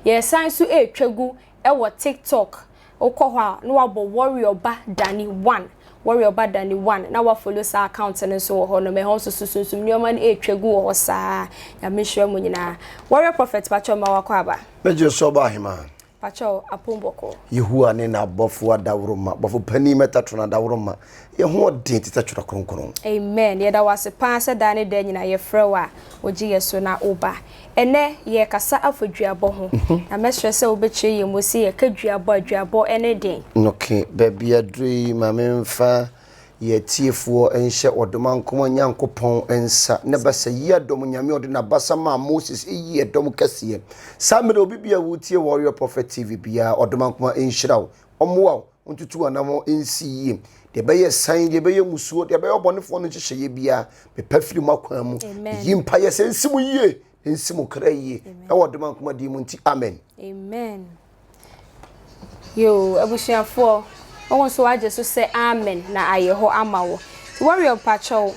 Yɛresan nso retwa gu wɔ TikTok, wokɔ hɔ a na wabɔ Warrior Ba Danny One, Warrior Ba Danny One, na woafolo saa account no nso wɔ hɔ nom, ɛhɔ nso so Sunsum nnoɔma no retwa gu wɔ hɔ saa, Nyame nhyira mo nyinaa. Warrior Prophet pakyɛw mma wakɔ aba. Megyere so ɔba ahemaa. Pakyɛw apon bɔkɔɔ. Yehowa ne n'abɔfo adaworoma, bɔfo panyin mɛtatron adaworoma, Yɛ ho ɔden te sɛ twerɛ kronkron. Amen yɛda wo ase paa sɛ daa ne daa nyinaa yɛfrɛ wo a wogye yɛ so na wo ba. Ɛnɛ yɛ kasa afa duabɔ ho na mɛ srɛ sɛ wo bɛ kyerɛ yɛn mu sɛ yɛ ka duabɔ a duabɔ ɛne den. Ok baabi aduru yi ma me nfa yɛ atiefoɔ nhyɛ ɔdom ankoma Nyankopɔn nsa ne basa yi adom Nyame ɔde na basa maa Moses eyi yɛ dom kɛseɛ saa mmerɛ obi biara wo tie Warrior Prophet TV biara ɔdom ankoma nhyira wo ɔmoa wo Montutu anammɔn nsi yie. Deɛ ɛbɛyɛ san, deɛ ɛbɛyɛ musuo, deɛ ɛbɛyɛ ɔbɔnefoɔ no nhyehyɛeɛ biara, mepa firi mo akwan mu. Meyi mpaeɛ sɛ nsi mo yie, na nsi mo kra yie. Ɛwɔ ɔdom ankoma din mu nti, amen. Amen. Yoo, abusuafoɔ, wɔn nso wagye so sɛ amen na ayɛ hɔ ama wo. Warrior mpakyɛw,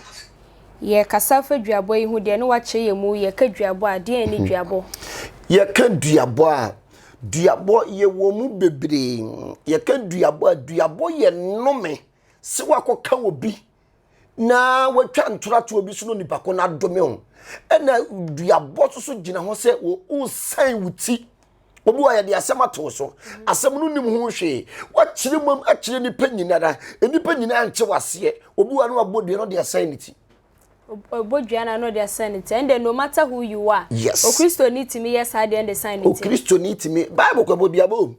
yɛkasa fa duabɔ yi ho deɛ ne wakyerɛ yɛ mu, yɛka duabɔ a, deɛ ne duabɔ? Yɛka duabɔ a, Duabɔ, yɛwɔ mu bebree. Yɛka duabɔ a, duabɔ yɛ nnome sɛ woakɔka obi na watwa ntoratoɔ bi so na onipa ko no adome wo. Ɛna duabɔ nso so gyina hɔ sɛ wosan wo ti. Obi wɔ yɛde asɛm ato so, asɛm no nim ho hwee. Wakyerɛ mu akyerɛ nnipa nyinara, nnipa nyinaa nkye waseɛ. Obi wɔ no wabɔ dua no de asan ne ti. Ɔbɔ dua na na ɔde asan ne ti. Ɛn deɛ no matter who you are. Yes. Okristoni tumi yɛ saa deɛ ɛde san ne ti. Okristoni tumi Bible kɔ ɛbɔ duabɔ mu.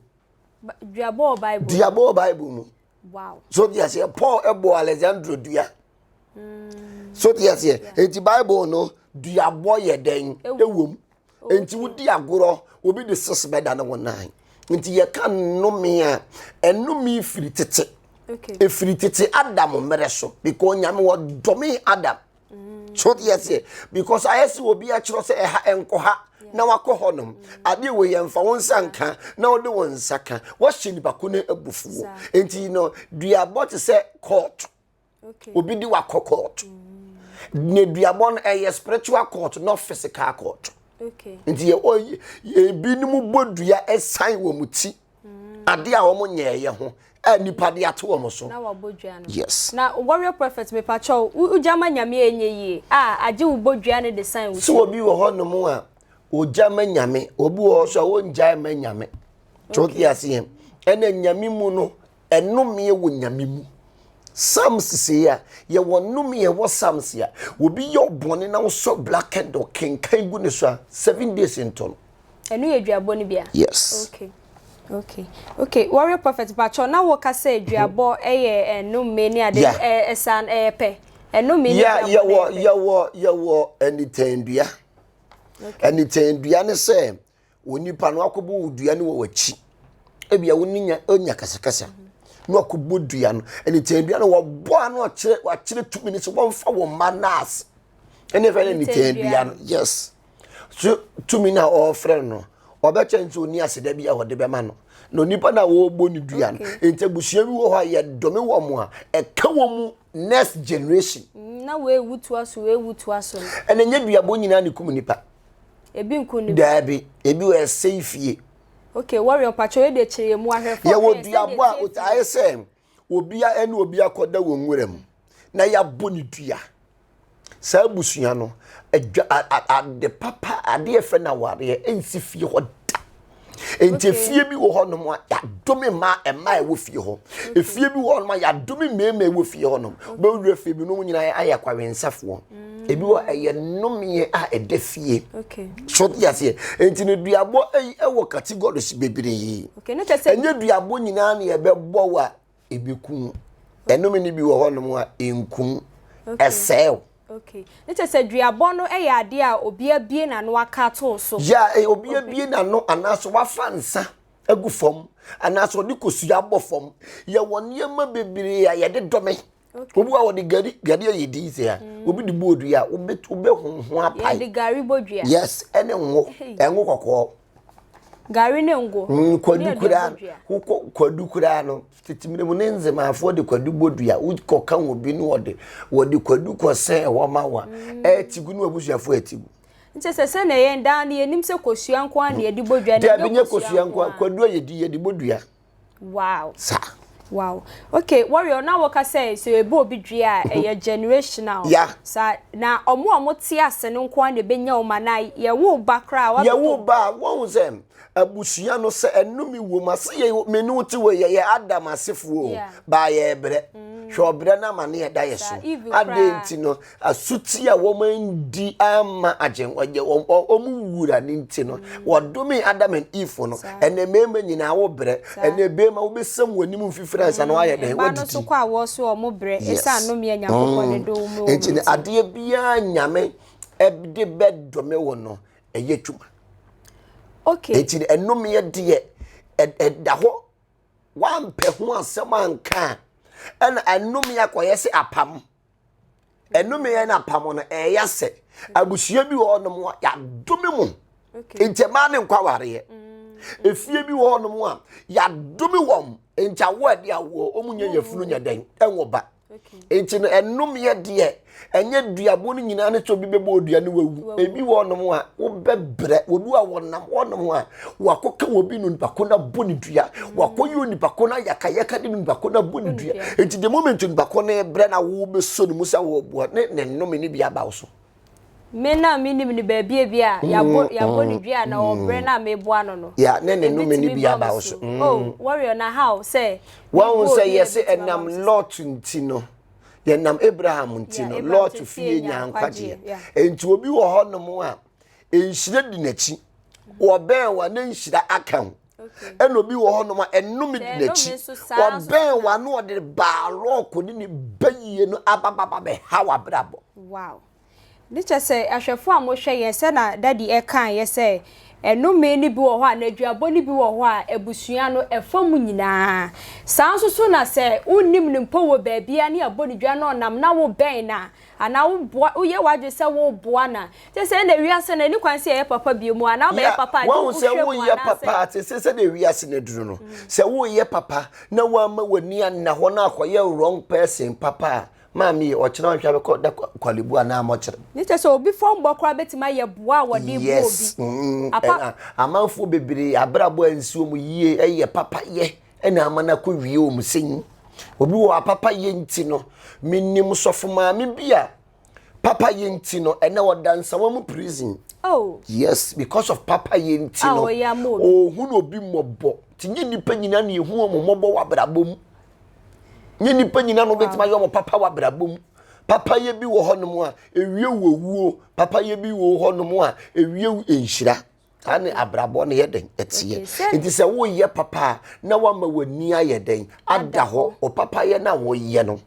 Duabɔ wɔ Bible. Duabɔ wɔ Bible mu. Wow. So di aseɛ Paul ɛbɔ Alexandro dua. Mm. So di aseɛ eti Bible no duabɔ yɛ dɛn ɛwɔ mu. nti wodi agorɔ obi de six bɛda ne ho nan nti yɛka nnome a ɛnome firi tete ɛfiri tete adam mmerɛ so because nyame wɔdɔme adam mm. so deɛ seɛ because ayɛ sɛ obi akyerɛ sɛ ɛha ɛnkɔ ha na wakɔ hɔ nom adeɛ wɔ yɛn fa wo nsa nka na wode wo nsa ka wɔhyɛ nipa ko no abufuo nti no duabɔ te sɛ kɔɔto Okay. Obi di wakɔ court. Mm. Ne duabɔ no ɛyɛ spiritual court not physical court. Okay. Nti yɛ ɔyɛ ebinom bɔ dua ɛsan wɔn mu ti. Mm. Ade a wɔn nyɛ ɛyɛ ho a nipa de ato wɔn so. Na wɔbɔ dua no. Yes. Na warrior prophet mepakyɛw wogyama nyame a ɛnyɛ yie a agye wo bɔ dua no de san wo. So obi wɔ hɔ nom a ogyama nyame obi wɔ hɔ so a wɔngyae ma nyame. Okay. Tɔki ase yɛn. Ɛna nyame mu no Nnomeɛ wɔ Nyame mu. Psalms sei a, yɛwɔ nnomeɛ ɛwɔ Psalms a, obi yɛ wo bɔne na wosɔ black candle kenkan gu ne so a, seven days nto no. Ɛno yɛ duabɔ no bi a? Yes. Okay. Okay. Okay. Warrior Prophet, mpakyɛw, na woka sɛ duabɔ yɛ nnomeɛ ne ade, Yeah. ɛ- ɛsa no, ɛyɛ pɛ? Nnomeɛ ne Yeah, duabɔ no yɛwɔ yɛ pɛ? yɛwɔ yɛwɔ anitandua. Okay. Anitandua ne sɛ Wo nipa no akɔbɔ wo dua no wɔ w'akyi. Ebia wo ne nya ɔnya kasakasa na wakɔbɔ dua no. Ɛne tɛn dua no wɔbɔ ano ɔkyerɛ wakyerɛ tumi no so wɔmfa wɔn mma naase. Ɛne fɛ ne tɛn dua no yes. So tumi na ɔfrɛ no ɔbɛkyɛ nti oni aseda bi a wɔde bɛma no. Na onipa na wɔbɔ ne dua no. Nti abusua bi wɔ hɔ a yɛdome wɔn a ɛka wɔn mu next generation. Mm, na wɔawutu aso wɔawutu aso. Ɛna nyɛ duabɔ nyinaa ne kum nipa. Ebi nko ne. Daabi, ebi wɔ ɛsɛe fie. Okay, warrior pacho yɛ de kyerɛ mu ahwɛfo. Yɛ wɔ duabo a otae sɛ obi a ɛne obi akɔda wɔ nwura mu na yɛabɔ ne dua. Saa abusua no, ade papa, ade ɛfɛ na awareɛ ɛnsi fie hɔ da. nti efie bi wɔ hɔnom a yɛadome mmaa mmaa ɛwɔ fie hɔ efie bi wɔ hɔnom a yɛadome mmarima ɛwɔ fie hɔnom bɛwura fie bi no mu nyinaa ayɛ kwawensafoɔ mm. ebi wɔ ɛyɛ nnomeɛ a ɛda fie so te aseɛ nti no duabɔ ɛyi ɛwɔ categories bebree ɛnyɛ duabɔ nyinaa na yɛbɛbɔ wɔ a ebekum wo ɛnome no bi wɔ hɔnom a enku wo ɛsɛe wo Okay. Ne kyɛ sɛ duabɔ no yɛ adeɛ a obi abie n'ano aka ato so. Ya eh, obi abie n'ano anaasɛ wafa nsa agu fam anaasɛ ɔde kosua abɔ fam. Yɛwɔ nneɛma bebree a yɛde dome Okay. Obi wa wɔde gari gari ayɛ din sɛ a mm. obi de bu odua a obi obi honhon apae. Yɛde gari bɔ dua. Yes ɛne ngo ɛngo kɔkɔɔ. Gari ne ngo. Mm, kwadu koraa wokɔ kwadu koraa no tete mmerɛ mu ne nzemaafoɔ de kwadu bɔ dua wokɔ ka wɔ bi ne wɔde wɔde kwadu kɔ sɛ ɛwɔ ma wa mm. ɛtigu ne wabusuafoɔ ɛtigu. nti sɛ sɛ na yɛn daa no yɛnim sɛ kosua nko a na yɛde bɔ dua. dɛbi nyɛ kosua nko a kwadu a yɛdi yɛde bɔ dua. Wow. Sa. Wow. Okay, warrior na wo ka sɛ so ebe obi dwe a mhm. ɛyɛ generational. Yeah. Sa na ɔmo a ɔmo te ase no nko na ebe nya ɔma na ye wo ba kra wa. Ye wo ba wɔn sɛ abusua no sɛ ɛno mi wɔ mu ase ye me no te wɔ yɛ yɛ adam asefoɔ ba yɛ brɛ. Mm. Hwɛ ɔbrɛ na ma ne yɛ da yɛ so. Ade nti no Asuti a wɔandi amma Agyenkwa nyɛ wɔn wɔn wura no nti no, wɔdomee Adam and Eve no. Ɛnna mmarima nyinaa wobrɛ. Ɛnna mmarima wobesiam wɔn anim mfifire ansa na wɔayɛ dɛn? Wɔadi ti. Yes. Mm. Enti no, adeɛ biara Nyame de bɛdome wo no, ɛyɛ adwuma. Okay. Enti no, ɛnomeɛ deɛ, ɛda hɔ. Woampɛ ho asɛm anka a, ɛna ɛnomeɛ akɔyɛ sɛ apam. ɛnome yɛn apam no ɛyɛ sɛ abusua bi wɔ hɔnom a yɛadome mu nti ɛmaa ne nkɔ awareɛ mm. efie bi wɔ hɔnom a yɛadome wɔn nti awo a ɛde awoɔ wɔn nyɛ yɛfunu nyɛ dɛn ɛnwɔ ba nti no ɛnomeɛ deɛ ɛnyɛ duabo no nyinaa ne sɛ obi bɛbɔ odua no wawu ebi wɔ nom a wobɛbrɛ obi a wɔnam wɔnom a wakɔ ka obi no nipa ko na bɔ ne dua wakɔ yi nipa ko na yaka yaka de nipa ko na bɔ ne dua eti de moment nipa ko na brɛ na wo bɛ so ne musa wɔ bɔ ne ne nnome ne bi aba so. me na me nim ne baabi ebi a mm, yabɔ yabɔ ne mm, dua na wɔ brɛ mm. na me boa no no ya ne ne nnome ne bi aba so oh warrior na how sɛ wɔn sɛ yɛsɛ ɛnam lot nti no yɛnam abraham nti no lot fie nyankwagyeɛ nti obi wɔ hɔ nom a nhyira di n'akyi wɔbɛn wa na nhyira aka ho ɛna obi wɔ hɔnom a ɛnome di n'akyi wɔbɛn wa na ɔde baa lɔɔko ne ne bɛyie no abababa bɛha w'abrabɔ. wow ne kyɛ sɛ ahwɛfo a mohwɛ yɛn sɛ na dadi ɛka yɛ sɛ ɛnome no bi wɔ hɔ a n'aduabɔ no bi wɔ hɔ a abusua no ɛfa mu nyinaa saa nso so na sɛ wonnim no mpo wɔ baabia ne abɔ ne dwa na ɔnam na wobɛn na Anaa woboa, woyɛ w'adwene sɛ woreboa no a, te sɛ ɛnna wiase no ani kwan sɛ yɛyɛ papa bio mu anaa wobɛyɛ papa a, ɛde wo hwɛ mu anaasɛ. Te sɛ sɛdeɛ wiase no aduru no, sɛ woreyɛ papa na woamma w'ani anna hɔ na akɔyɛ wrong person papa a, maame yi, ɔkyena ɔnhwɛ a bɛkɔ da kwalebu anaa mɔkyere. Ne kyerɛ sɛ obi fɔmbɔ koraa bɛtumi ayɛ boa a wɔde bu obi. Yes, mm, ɛna amanfoɔ bebree abrabɔ ansi wɔn yie, ɛyɛ papayɛ. ɛna ama no akɔ wie wɔn sɛ nyi obi wɔ apapa yɛ nti no menim sɔfo maame bi a papa yɛ nti no ɛnɛ ɔda nsawa mu prison oh. yes because of papa yɛ nti ah, no ɔhu no obi mmɔbɔ nti nye nnipa nyina na ɛhu ɔmo mmɔbɔ wɔ abrabɔ mu nye nnipa nyina na ɔbɛtumi ayɛ ɔmo papa wɔ abrabɔ mu papa yɛ bi wɔ hɔnom a ewie wɔ wuo papa yɛ bi wɔ hɔnom a ewie nhyira saa ne abrabɔ no yɛ dɛn ɛteɛ nti sɛ woyɛ papa a na wama w'ani ayɛ dɛn ada hɔ ɔpapayɛ no a wɔyɛ no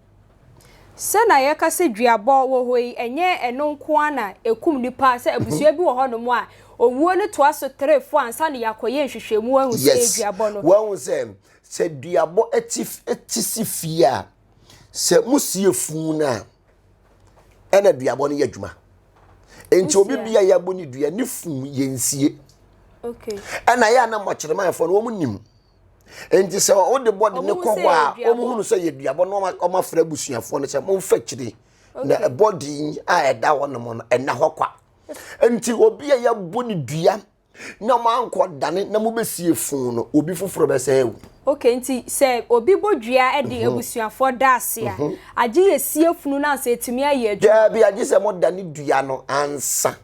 sɛ na yɛka sɛ duabɔ wɔ hɔ yi ɛnyɛ ɛno nko ara na ɛkum nipa sɛ mhm. abusua bi wɔ hɔ nom a owuo no toa so tere fo ansa na yɛakɔyɛ nhwehwɛmu ahu sɛ duabɔ no wahu sɛ sɛ duabɔ ɛti si fie a sɛ mosie funu no a ɛna duabɔ no yɛ adwuma nti obi bia yɛ abɔ ne dua ne funu yɛ nsie ɛna yɛ anam ɔkyerɛmanfoɔ no wɔn nim nti sɛ wɔde bɔ de ne kɔ hɔ a wɔn hunu sɛ yɛ duabɔ no wɔn afra abusuafoɔ no sɛ wɔn fa kyire na ɛbɔ din a ɛda hɔ nom no ɛna hɔ kwa nti obi a yɛ abɔ ne dua Na moankɔ dane na mobɛsie foo no, obi foforɔ bɛsan awu. Ok nti sɛ obi bɔ dua de abusuafoɔ da ase a, agye yɛsie funu no ansa atumi ayɛ adwuma? Daabi, agye sɛ modane dua no ansa.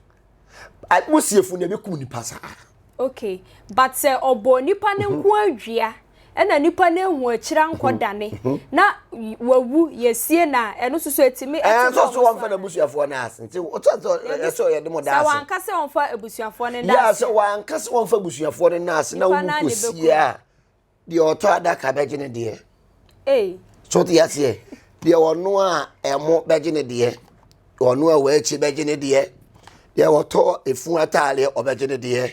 Mosie funu no a ɛbɛkum nipa saa ara. Ok but sɛ ɔbɔ nipa no nkoaa dua ɛna nipa no ehu akyire ankɔ dane na wawu yɛsie no a ɛno soso ɛtumi ɛnso so wɔmfa no abusuafoɔ no ase nti wotɔ sɛ ɔyɛ de mo da ase sɛ wanka sɛ wɔmfa abusuafoɔ no da ase sɛ wanka sɛ wɔmfa abusuafoɔ no da ase na wowu kɔsie a deɛ ɔtɔ adaka bɛgye ne deɛ ee so te aseɛ deɛ ɔno a ɛmo bɛgye ne deɛ ɔno a wɔakyi bɛgye ne deɛ deɛ ɔtɔ efu ataadeɛ ɔbɛgye ne deɛ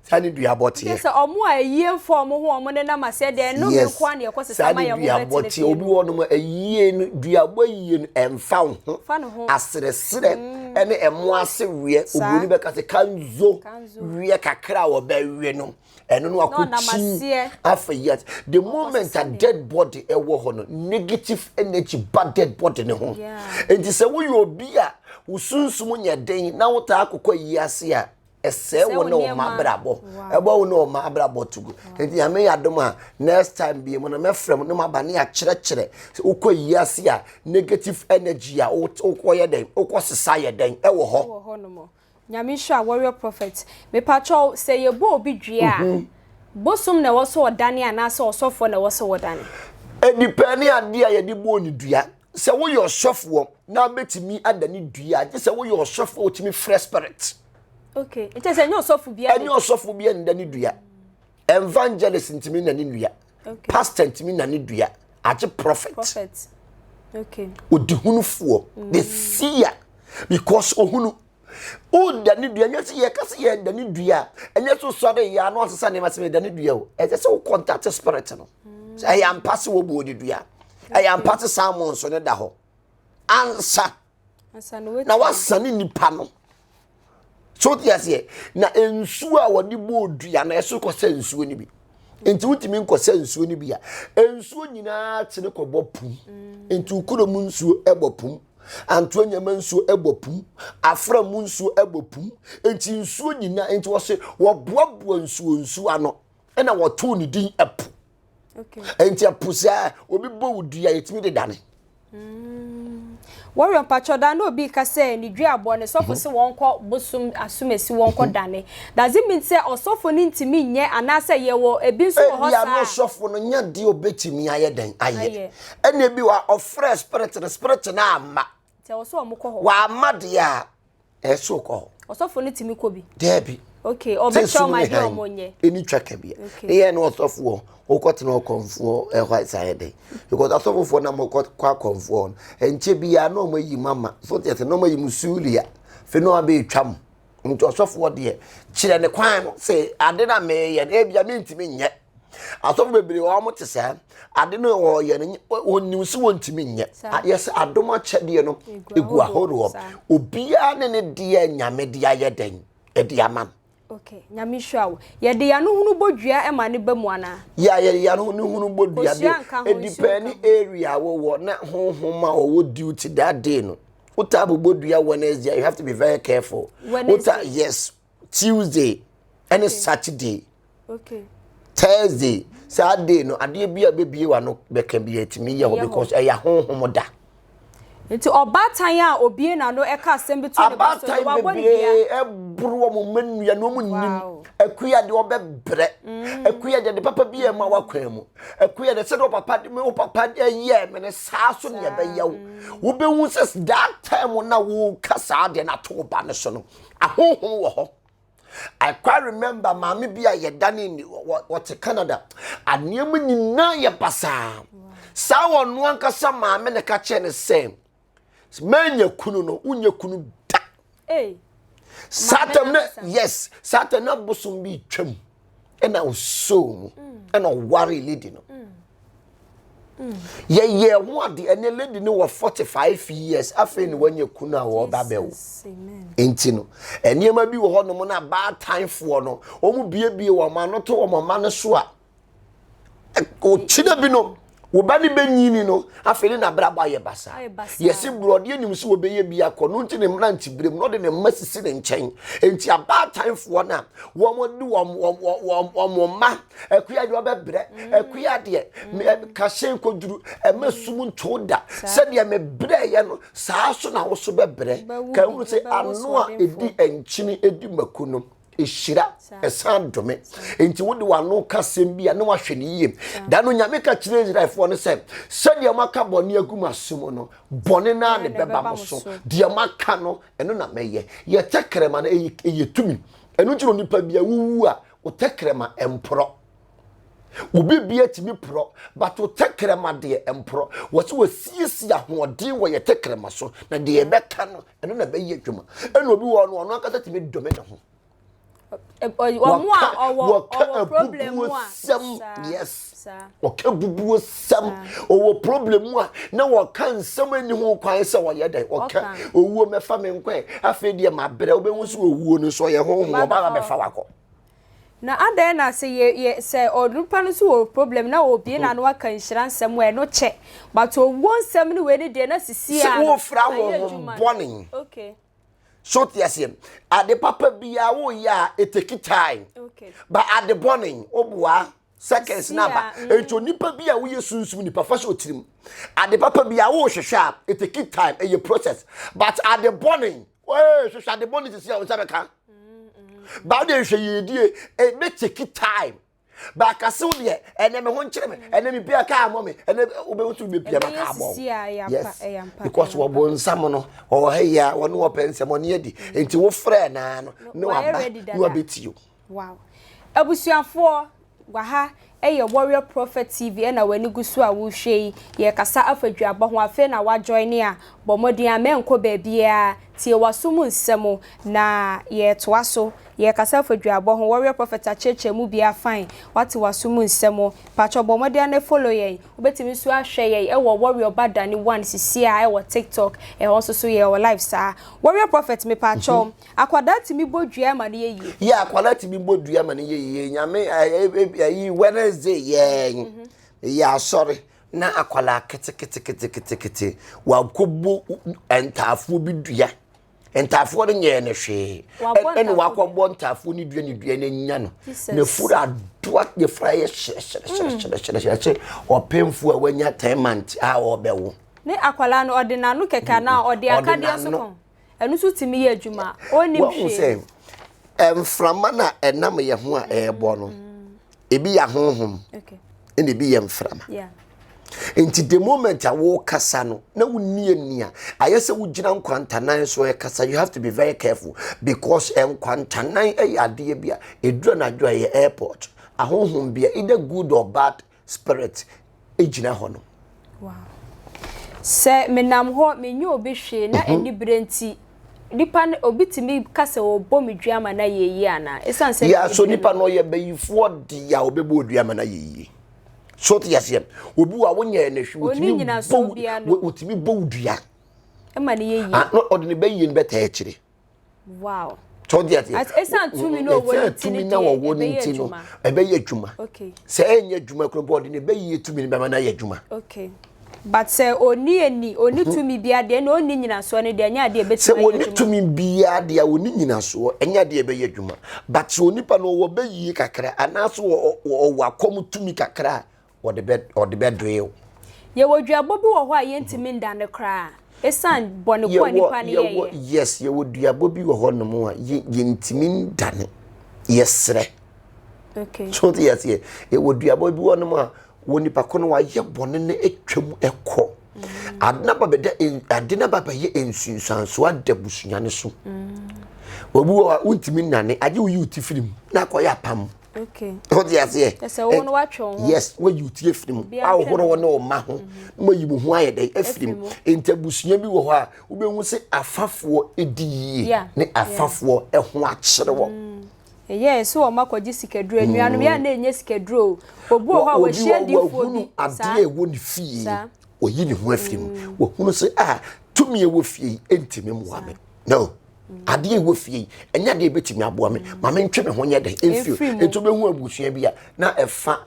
saa ne duabɔ teɛ. sɛ ɔmo a ayie mfa ɔmo ho ɔmo nenam ase ɛde ɛno yes. nkoa na ɛkɔ sesa ma yɛ ɔmo bɛtene fie no. saa ne duabɔ teɛ obi wɔ nom ayie no duabɔ ayie no ɛmfa wo ho. fa ne ho. aseresere mm. ɛne ɛmo ase weɛ oburoni bɛka sɛ kanzo weɛ kakra a wɔbɛwe no ɛno no akokyi afa yi ase the moment a dead body ɛwɔ hɔ no negative energy ba dead body ne ho nti sɛ woyɛ obi a wosunsum nyɛ den na wotaa akokɔ yi ase a. ɛsɛe wo ne ɔma abrabɔ ɛbɔ wo ne ɔma abrabɔ to gu nti nyame yɛ adom a next time bie mu no mɛfrɛ mu no maba ne akyerɛkyerɛ wokɔ yi ase a negative energy a wokɔyɛ dɛn wokɔ sesa yɛ dɛn ɛwɔ hɔ wɔ hɔ nom nyame nhyira warrior prophet mepakyɛw sɛ yɛbɔ obi dua a mhm. bosom na ɛwɔ sɛ ɔdane anaasɛ ɔsɔfoɔ na ɛwɔ sɛ wɔdane ɛdipɛ ne adeɛ a yɛde bɔɔ ne dua sɛ woyɛ ɔsɔfoɔ na wobɛtumi ada ne dua a gye sɛ woyɛ ɔsɔfoɔ a wotumi frɛ spirit okay nkyɛ sɛ ɛnyɛ ɔsɔfo bia ɛnyɛ ɔsɔfo bia nda ne dua evangelist ntumi na ne dua okay. pastor ntumi na ne dua agye prophet prophet okay odihunufoɔ mm. the seer because ohunu Woda ne dua, ɛnyɛ sɛ yɛka sɛ yɛda ne dua a, ɛnyɛ sɛ wosɔre yɛ ano asesa nneɛma sɛ meda ne dua o. Ɛsɛ sɛ wokɔntate spirit no. Sɛ ɛyɛ ampa sɛ wɔbuo ne dua, ɛyɛ ampa sɛ salmon nso no da hɔ. Ansa na wasa ne nipa no. So wote aseɛ? Na nsuo a wɔde bɔɔ dua no, ɛso kɔsɛ nsuo no bi. Nti wotumi nkɔsɛ nsuo no bi a, nsuo nyinaa tene kɔbɔ pum. Nti wokuro mu nsuo bɔ pum. antoa nneɛma nsuo ɛbɔ pum afra mu nsuo ɛbɔ pum nti nsuo nyinaa nti wɔse wɔboaboa nsuo nsuo ano ɛna wɔtoo ne din ɛpo nti ɛpo saa obi bɔ wo dua yɛtumi de dane mm. wɔyɔ mpakyɛ da na obi ka sɛ ne dua abɔ ne sɔfo sɛ wɔnkɔ bosom asomasi wɔnkɔ dane does it mean sɛ ɔsɔfo no ntumi nyɛ anaasɛ yɛwɔ ebi nso wɔ hɔ saa ɛbia no sɔfo no nya deɛ obɛtumi ayɛ dɛn ayɛ ɛna bi wa ɔfrɛ spirit no spirit no ama sɛ ɔsɛ ɔmo kɔ hɔ wama deɛ a ɛso kɔ hɔ ɔsɔfo no tumi kɔ bi daabi okay ɔbɛkyɛ ɔmo adeɛ ɔmo nyɛ ɛni twa ka bia ɛyɛ ne ɔsɔfoɔ wokɔtena ɔkɔmfoɔ ɛhɔ a saa yɛ dɛ because asɔfofoɔ na mokɔ akɔmfoɔ no ɛnkyɛ biara na ɔmo ayi mu ama so deɛ sɛ na ɔmo ayi mu suulia fei na ɔmo abɛtwa mu nti ɔsɔfoɔ deɛ kyerɛ ne kwan no sɛ ade na meyɛ no ebia mentumi nyɛ asɔfo bebree wɔn mo te saa ade no wɔyɛ no wɔnim sɛ wɔntumi nyɛ ayɛ sɛ adom akyɛdeɛ no egu ahoroɔ obiara ne ne deɛ nyame de ayɛ dɛn ɛde ama no. Okay, nyame hyira wo. Yɛde yano hunu bɔ dua ɛma ne ba mu ana? Ya yɛde yano hunu hunu bɔ dua de. Edipɛni area wɔ wɔ na honhom a wɔwɔ duty that day no. wota abobɔ dua wednesday you have to be very careful wota yes tuesday ɛne okay. saturday okay. thursday saa day no adeɛ bi a bɛbie wa no bɛka bi atumi yɛ hɔ because ɛyɛ ahonhom da nti ɔbaatan a obie na no ɛka asɛm bi to ne ba so wa bɔ ne bia ɛboro wɔn mma nnua na wɔn nim akuya de ɔbɛbrɛ mm. akuya de de papa bi a ɛma wakwan mu Ɛko yɛ dɛ sɛdeɛ ɔpapa de me ɔpapa yɛɛ me no saa so na ɛbɛyɛ wo wobɛhu sɛ that time na woka saa deɛ na to ba no so no ahohom wɔ hɔ I quite remember maame bi a yɛdane ni wɔte Canada aneɛma nyinaa yɛ basaa saa wɔn ankasa maame na ka kyerɛ ne sɛ manya kunu no wonyɛ kunu da satan na yes satan na bosom bi twam ɛna ɔsoo mu mm. ɛna ɔware lady no mm. Mm. yɛyɛ ho ade ɛne lady no wɔ 45 years afei ne wanya kunu a wɔba bɛwo nti no nneɛma bi wɔ hɔ nom no abaatanfoɔ no wɔn biebie wɔn ano to wɔn mma no so a ɔkyena bi no wo ba no bɛnyini no afei ne nabrabɔ ayɛ basa yɛse borɔdeɛ nim so wɔbɛyɛ bi akɔ no nti ne mmerante berɛ mu na ɔde ne mma sisi ne nkyɛn nti abaatanfoɔ no a wɔde wɔn mma akua deɛ ɔbɛbrɛ akua deɛ kahyɛn kɔduru ɛma sum nto da sɛdeɛ mebrɛeɛ no saa so na wo so bɛbrɛ ka hu sɛ ano a ɛdi nkyini ɛdi mako no ɛhyira ɛsan dome nti wode w'ano ka sɛm bi a na wahwɛ no yie da no nyame ka kyerɛ israelfoɔ no sɛ sɛdeɛ moaka bɔne agu mo aso mu no bɔne no a ne bɛba mo so deɛ moaka no ɛno na mɛyɛ yɛtɛkrɛma no ɛyɛ tumi ɛno nti no nipa bia wowu a wotɛkrɛma ɛmporɔ Obi bia tumi porɔ, but wo tɛkrɛma deɛ mporɔ. Wɔ sɛ wɔsiesie ahoɔden wɔ yɛ tɛkrɛma so, na deɛ ɛbɛka no, ɛno na ɛbɛyɛ adwuma. Ɛna obi wɔ no, ɔno ankasa tumi dome ne ho. Wɔn a ɔwɔ ɔwɔ problem mu a, yes. Wɔka bubuo sɛm, ɔwɔ problem mu a, na wɔka nsɛm ani ho kwan sɛ wɔyɛ dɛ. Wɔka owuo mɛfa me nkwa, afei deɛ mabrɛ, wobɛhu sɛ owuo no nso ɔyɛ honhom, ɔbaa bɛfa wakɔ. Na adɛn na sɛ yɛ yɛ sɛ onipa no nso wɔ problem na obie n'ano aka nhyira nsɛm a ɛno kyɛ but owuo nsɛm ne wei ne deɛ na sisi a no wofira wɔn ho bɔne okay so te aseɛ ade papa biara woyɛ a eteki time okay ba ade bɔne woboa seconds na ba mm. nti onipa bi a woyɛ sunsum nipa fa hyɛ otirim ade papa biara wohwehwɛ a eteki time ɛyɛ process but ade bɔne Hey, hwehwɛ ade bɔ ne sisi a wo nsa bɛka. Baa deɛ nhwɛ yie die, ɛbɛ take time. Baaka se wo deɛ, ɛnɛ me ho nkyerɛ me, ɛnɛ me bia kaa mɔ me, ɛnɛ wobɛhu so wobɛ bia ma kaa bɔ Yes, because wɔbɔ nsam no, wɔwɔ ha yia, wɔne wɔpɛ nsɛm, wɔne adi. Nti wo frɛ naa no, ne waba, ne wabɛti o. Wow. Abusuafoɔ, waha yɛ Warrior Prophet TV na w'ani gu so a worehwɛ yi. Yɛrekasa afa duaba ho. Afei na woajoine a, bɔ mmɔden amma nkɔ baabiara. Tie w'aso mu nsɛm na yɛretoa so. Yɛrekasa afa duaba ho. Warrior Prophet akyerɛkyerɛ mu bi afine. Woate w'aso mu nsɛm. Patrɔ bɔ mmɔden ara na follow yɛn. Wobɛtumi nso ahwɛ yɛn wɔ Warrior Badane One sesie a wɔ TikTok. Ɛhɔ nso so yɛwɔ live saa. Warrior Prophet, me patrɔ. Akwadaa tumi bɔ dua ma no yɛ yie. Yeah akwadaa tumi bɔ dua ma no yɛ yie nyame ɛyi Wednesday yɛn yɛ asɔre na akwadaa keteketeketekete wakɔbɔ ntaafoɔ bi dua ntaafoɔ no nyɛɛ no hwee ɛna wakɔbɔ ntaafoɔ no dua ne dua no anya no na furu adoa ne fura yɛ hyerɛhyerɛhyerɛhyerɛhyerɛ ɔpemfoɔ a wanya ten months a ɔbɛwo ne akwadaa no ɔde n'ano kɛkɛ anaa ɔde akadeɛ so kɔn ɛno nso tumi yɛ adwuma a ɔnnim hwee. Wɔn sɛ mframa na ɛnam yɛn ho a ɛrebɔ no, mm. ebi yɛ ahonhom, ɛna ebi yɛ mframa. Nti the moment a wɔkasa no na wonni ani a ayɛ sɛ wogyina nkwantanan so ɛkasa you have to be very careful because nkwantanan yɛ adeɛ bi a ɛdura anadwo a ɛyɛ airport ahonhom bi a either good or bad Spirit gyina hɔ no. Wow. Sɛ menam hɔ menyɛ obi hwee na anibere nti nipa no obi tumi ka sɛ ɔbɔ me dua ma na yɛ yie ana ɛsan sɛ yɛ aso nipa no yɛ bɛyifoɔ de a ɔbɛbɔ odua ma na yɛ yie so te yaseɛ obi wa wonyɛ ne hwee wotumi bɔ wotumi bɔ odua ɛma ne yɛ yie ɔde ne bɛyie no bɛtaa akyire wow so ɔde aseɛ as esan tumi na ɔwɔ ne ti ne deɛ ɛbɛyɛ adwuma ɛbɛyɛ adwuma okay sɛ ɛnyɛ adwuma kura bɔ ɔde ne bɛyɛ tumi ne bɛma na yɛ adwuma okay but sɛ oni ani oni tumi bia deɛ na oni nyinasoɔ ne deɛ ɛnyɛ adeɛ ɛbɛtumi sɛ oni tumi bia deɛ oni nyinasoɔ ɛnyɛ adeɛ ɛbɛyɛ adwuma but sɛ onipa no ɔwɔ bɛyie kakra anaasɛ ɔwɔ akɔm tumi kakra wɔde bɛ wɔde bɛdoe wo. Yɛwɔ duabɔ bi wɔ hɔ a yɛntumi nda no koraa esiane bɔne ko a nipa no yɛyɛ. Yes, yɛwɔ duabɔ bi wɔ hɔ nom a yɛntumi nda no, yɛsrɛ. Okay. So te yɛseɛ, yɛwɔ duabɔ bi wɔ nom a wɔ nipa ko no wayɛ bɔne no atwam ɛkɔ. Mm. Ade na babɛda ade na babɛyɛ nsunsuanso ada busua no so. Mm. Obi wɔ a wontumi nane agye woyi wo ti firi mu na akɔyɛ apam. Okay. Ho di aseɛ. Ɛsɛ wo no watwe wo ho. Yes, wayi wo ti afiri mu. Ahohoro wo ne wo mma ho. Na wayi wo ho ayɛ dɛn afiri mu. Nti abusua bi wɔ hɔ a wobɛhu sɛ afafoɔ di yie ne afafoɔ ho akyere wɔ. Mm. Ɛyɛ ɛsɛ wɔn akɔgye sikaduro. Anuanom yɛ a na ɛnyɛ sikaduro. Obi wɔ hɔ a wɔhyia difoɔ bi. Adeɛ ɛwɔ ne fie. Wɔyi ne ho afiri mu. Mm. Wɔhunu sɛ a ah, tumi ɛwɔ fie yi ɛntumi mmoa me. No. adeɛ a ɛwɔ fie yi ɛnyɛ adeɛ ɛbɛtumi aboa me ma mentwe me ho nyɛ dɛn ɛmfiri mu nti wobɛhu abusua bi a na ɛfa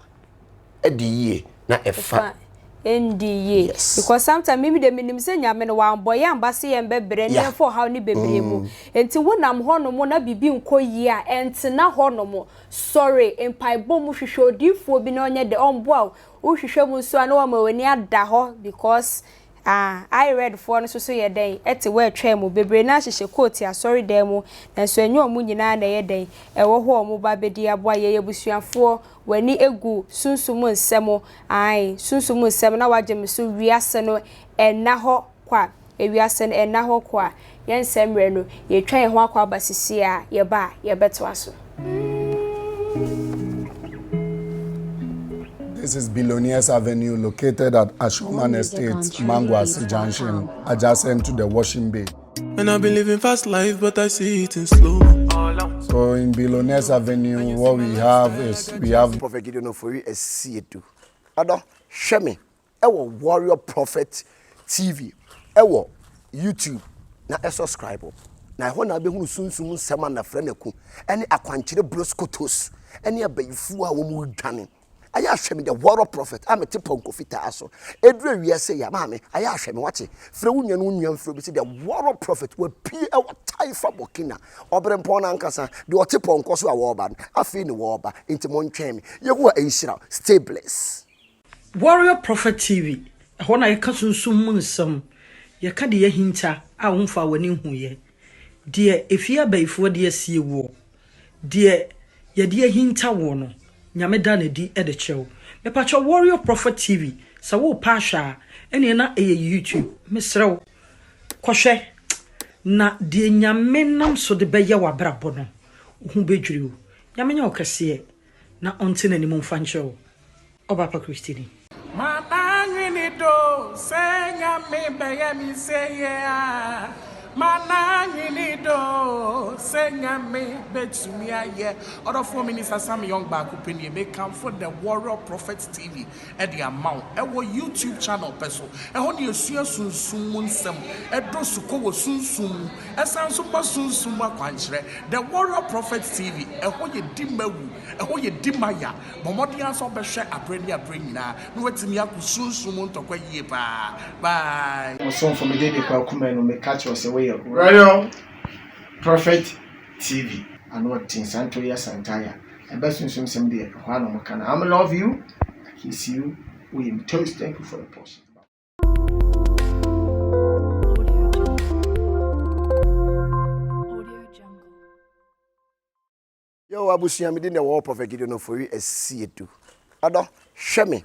ɛdi yie na ɛfa ɛndi yie yes. because sometimes mimi de menim sɛ nyame no wambɔ yɛ amba se yɛn bɛbrɛ ne yɛmfa ɔhaw ne bebree mu mm. nti wonam hɔnom na biribi nkɔ yie a ɛntena hɔnom sɔre mpaebɔ mu hwehwɛ odiifoɔ bi na ɔnyɛ dɛ ɔmboa wo wohwehwɛ mu nso a na wama w'ani ada hɔ because Ah, IREDfoɔ no soso yɛ dɛn te wɔ atwaa mu? Bebree no ara hyehyɛ koote asɔredan mu, nanso ɛnyɛ wɔn nyinaa na ɛyɛ dɛn wɔ hɔ a wɔn ba bɛdi aboa. Yɛn abusuafoɔ, w'ani gu sunsum nsɛm? Aane, sunsum nsɛm, na wagye me so, wiase no nna hɔ kwa, wiase no nna hɔ kwa. Yɛn nsɛm mmerɛ no, yɛretwa yɛn ho akɔ aba sesie a, yɛba a, yɛbɛtoa so. This is Billionaires Avenue located at Ashroman Estate, Manguase Junction, adjacent to the Washing Bay. And I've been living fast life, but I see it in slow. So in Billionaires Avenue, what we have is we have Prophet Gideon Ofori Esiedu. Odo, hwɛ me. wɔ Warrior Prophet TV wɔ YouTube na subscribe na ɛhɔ na wobɛhunu sunsum nsɛm a Nafrɛnaku ne akwankyerɛ broskotos ne abayifuo a wɔn redwane ayɛ ahwɛ me the Warrior Prophet a mete pɔnkɔ fitaa so ɛduru awia sɛ yɛ maame ayɛ ahwɛ me wate frɛ wo nua no wo nua mfrɛ bi sɛ the Warrior Prophet wapie ɛwɔ Taifa Burkina ɔberempɔn no ankasa deɛ ɔte pɔnkɔ so a wɔreba no afei ne wɔreba nti montwɛn me Yehowa nhyira stay blessed Warrior Prophet TV, ɛhɔ na yɛka sunsum mu nsɛm, yɛka deɛ yɛahinta a womfaa w'ani nhuiɛ, deɛ efie abayifoɔ de asie woɔ, deɛ yɛde ahinta woɔ no, Nyame da no adi de kyerɛ wo. Mepakyɛw Warrior Prophet TV, sɛ worepɛ ahwɛ a, ɛneɛ na ɛyɛ YouTube, mesrɛ wo, kɔhwɛ, na deɛ Nyame nam so de bɛyɛ w'abrabɔ no, wo ho bɛdwiri wo. Nyame nyɛ wo kɛseɛ. Na ɔnte n'anim mfa nkyerɛ wo, ɔbaapa Kristoni. Mananwene do sɛ Nyame bɛyɛ me sɛyɛ a, mananwene do sɛ Nyame bɛtumi ayɛ. Ɔdɔfoɔ Minister Sam Young baako pɛ nie, mekamfo The Warrior Prophet TV. de ama wo wɔ YouTube channel pɛ so. Ɛhɔ na yɛsua sunsum mu nsɛm, ɛdɔ sukɔ wɔ sunsum mu, ɛsan nso ma sunsum mu akwankyerɛ. The Warrior Prophet TV, ɛhɔ yɛ di ma wu, ɛhɔ yɛ di ma ya. Bɔ mmɔden ara sɛ wobɛhwɛ aberɛ ne aberɛ nyinaa na woatumi ako sunsum mu ntɔkwa yie paa. Bye. Ɔsomfo Medede Kwaku Manu, meka kyerɛ wo sɛ woyɛ Warrior Prophet. TV ano ɔdzen saa ntori asantaa yi a ɛbɛ sunsum sɛm deɛ ɛhɔ ara na ɔmo ka no am love you I kiss you wo yɛ me toast thank you for the post. yɛwɔ abusua mede na ɛwɔ prɔfɛt gideon ɔfori asiedu ɔdɔ hwɛ me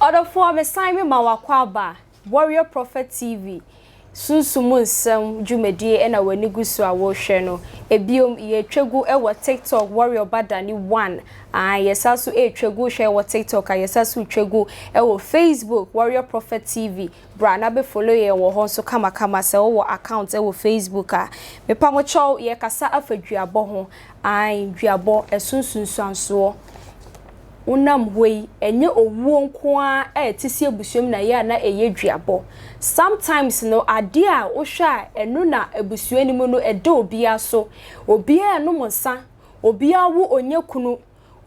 Ɔdɔfoɔ mesan mema wo akwaaba a Warrior Prophet TV Sunsum mu nsɛm dwumadie na w'ani gu so a worehwɛ no. Biom yɛretwa gu wɔ TikTok Warrior Badani one aane yɛsan so retwa gu hwɛ wɔ TikTok a yɛsan so retwa gu wɔ Facebook Warrior Prophet TV Bra na bɛ follow yɛn wɔ hɔ nso kamakama sɛ wowɔ account wɔ Facebook a. Mepa mo kyɛw yɛkasa afa duabɔ ho ae duabɔ ɛso nsunsuansoɔ wonam hɔ yi ɛnyɛ owuo nko ara a ɛte se abusua mu na ɛyɛ a na ɛyɛ duabɔ sometimes no adeɛ a wohwɛ a ɛno na abusua no mu no ɛda obiara so obiara ɛnom nsa obiara wo ɔnya kunu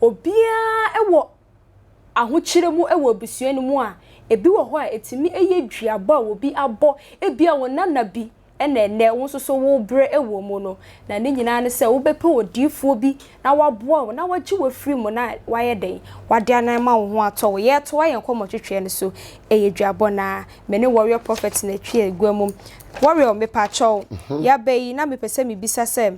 obiara wɔ ahokyere mu wɔ abusua no mu a, ebi wɔ hɔ a etumi yɛ duabɔ a obi abɔ. Ebia wo nana bi na ɛnnɛ wo nso so worebrɛ wɔ mu no, na ne nyinaa ne sɛ wobɛpɛ odiyifoɔ bi na waboa wo na wagye wo afiri mu na wayɛ dɛn? Wade anan ma wo ho atɔ wo. Yɛretoa yɛn nkɔmmɔtwetweɛ no so, ɛyɛ duabɔ no ara. Me ne Warrior Prophet na ɛtwe agua mu. Warrior, mepaakyɛw, yɛaba yi na mepɛ sɛ mebisa sɛ,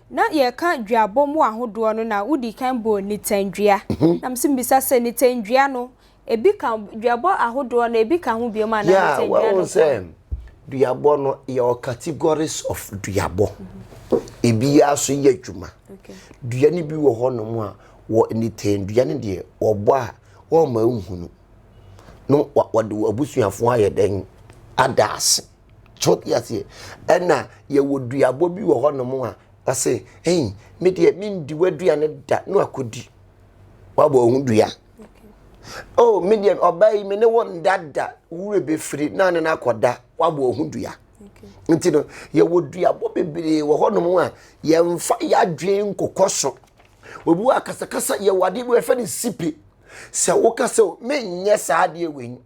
Na yɛreka duabɔ mu ahodoɔ no na wodii kan bɔɔ nitandua. Na mese mebisa sɛ nitandua no ebi ka duabɔ ahodoɔ no ebi ka ho biom anaa nitandua no nko ara? Yeah, wahu sɛ duabɔ no yɛwɔ categories of duabɔ. Ebiara nso yɛ adwuma. Dua no bi wɔ hɔ nom a wɔ nitandua no deɛ wɔbɔ a wɔmma nhunu. No wɔde wɔn abusuafoɔ ayɛ dɛn ada ase. so te aseɛ ɛna yɛwɔ duabɔ bi wɔ hɔnom a ɔse ɛyi me deɛ mendi w'aduane da no akɔdi wabɔ ɔho dua o oh, me deɛ ɔbaa yi me ne wo nda da wura bɛfiri na ne no akɔda wabɔ ɔho dua nti no yɛwɔ duabɔ bebree wɔ hɔnom a yɛmfa yɛadwene nkokɔ so obi wɔ akasakasa yɛwɔ adeɛ bi wɔfɛ no sipe sɛ woka sɛ menyɛ saa adeɛ wei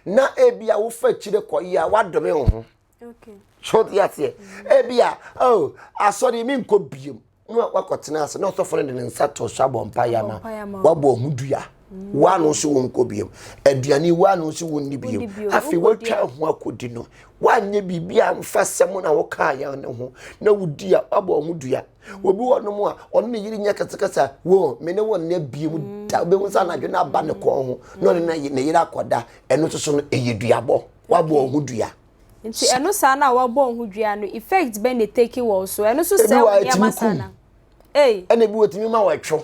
na ebi a wofa akyire kɔ yi a wadome wo ho so te aseɛ ebi a oh asɔre mi nkɔ biem na wakɔtena ase na ɔsɔfo no de ne nsa to so abɔ mpa yama wabɔ ɔho dua waano so wo nkɔ biem aduane waano so wo nni biem afei watwa ho akɔdi no wanyɛ biribi a mfa sɛm na wokaa yɛn ne ho na wodi a wabɔ ɔho dua obi wɔ nom a ɔne ne yere nya kɛsekɛse a wo me ne wo nna bie mu mm. da wobɛhu sɛ anadwo no aba ne kɔn ho na ɔne mm. ne yere akɔda ɛno soso no ɛyɛ duabɔ wabɔ ɔho dua nti ɛno saa no a wabɔ ɔho dua no effect bɛ ne take wɔ so ɛno so sɛ wo nneɛma saa na ɛna bi wɔtumi ma wɔatwo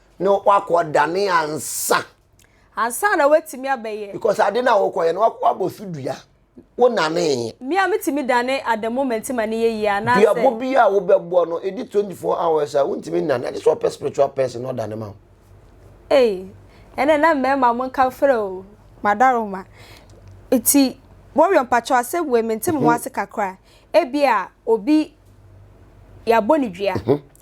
Ne wakɔ dane ansa. Ansa na watumi abɛyɛ. Because ade na wɔkɔyɛ no wabɔ so dua. Wo nanee. Me a metumi dane ada moment ma ne yɛ yie anaasɛ. Duabɔ bi a wobɛbɔ no ɛdi 24 hours a wontumi nnane agye sɛ ɔpɛ spiritual person na ɔdane ma wo. Ei, ɛnɛ na mmarima mo nka frɛ o. Madaroma. Nti Warrior mpakyɛw asɛm wei mente me ho ase kakra. Ebia obi yɛabɔ ne dua.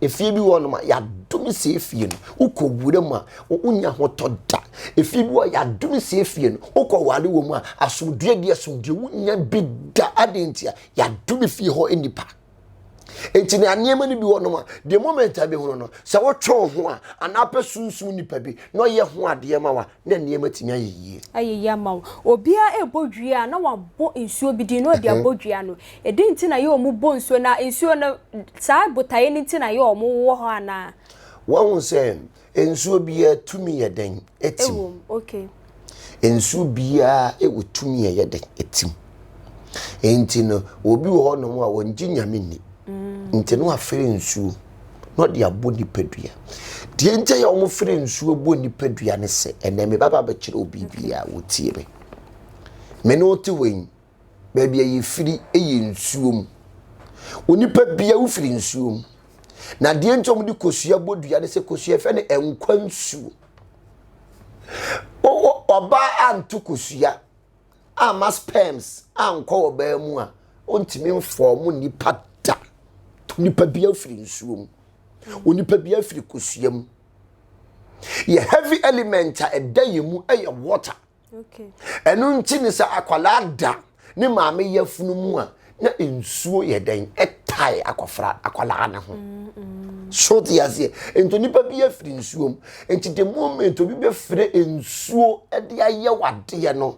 Efie bi wɔ nom a yɛadome sɛ efie no wokɔ wura mu a wonya hotɔ da. Efie bi wɔ yɛadome sɛ efie no wokɔ ware wɔ mu a asomdwoeɛ de asomdwoeɛ wonya bi da. Adɛn nti a yɛadome fie hɔ nnipa. Enti na nneɛma no bi wɔ nom a the moment a bɛhunu no sɛ wotwe wo ho a anaa pɛ sunsum nipa bi na ɔyɛ ho adeɛ ma wa na nneɛma tumi ayɛ yie. ayɛ yie ama wo. Obiara rebɔ dua a, na wabɔ nsuo bi din na ɔde abɔ dua no. Ɛdi nti na yɛ wɔn bɔ nsuo na nsuo no, saa botaeɛ no nti na yɛ wɔn wɔ hɔ anaa? Wahu sɛ nsuo biara tumi yɛ dɛn? Ɛtim. Ɛwɔ mu, okay. Nsuo biara ɛwɔ tumi a ɛyɛ dɛn? Ɛtim. Nti no, obi wɔ hɔ nom a wɔn gye Nyame nni. Mm. Nti no afiri nsuo. na ɔde abɔ nipadua deɛ nkyɛ yɛ wɔn fere nsuo bɔ nipadua ne sɛ ɛnna mi baba bɛkyerɛ obi bi a wotie me me ne ɔte hɔ yi baabi a yɛfiri yɛ nsuo mu onipa bia wofiri nsuo mu na deɛ nkyɛ wɔn de kosua bɔ dua ne sɛ kosua fɛ ne nkwa nsuo ɔbaa anto kosua. amma sperms ankɔ ɔbaa mu a, ontumi mfɔɔmo nnipa da. Onipa bi afiri nsuo mu. Onipa bi afiri kosua mu. Yɛ heavy element a ɛda yɛn mu yɛ water. Ɛno nti ne sɛ akwadaa da ne maame yafunu mu a, na nsuo yɛ dɛn ɛtae akɔfra akwadaa no ho so te aseɛ nti nipa bi afiri nsuo mu nti the moment obi bɛfrɛ nsuo de ayɛ wadeɛ no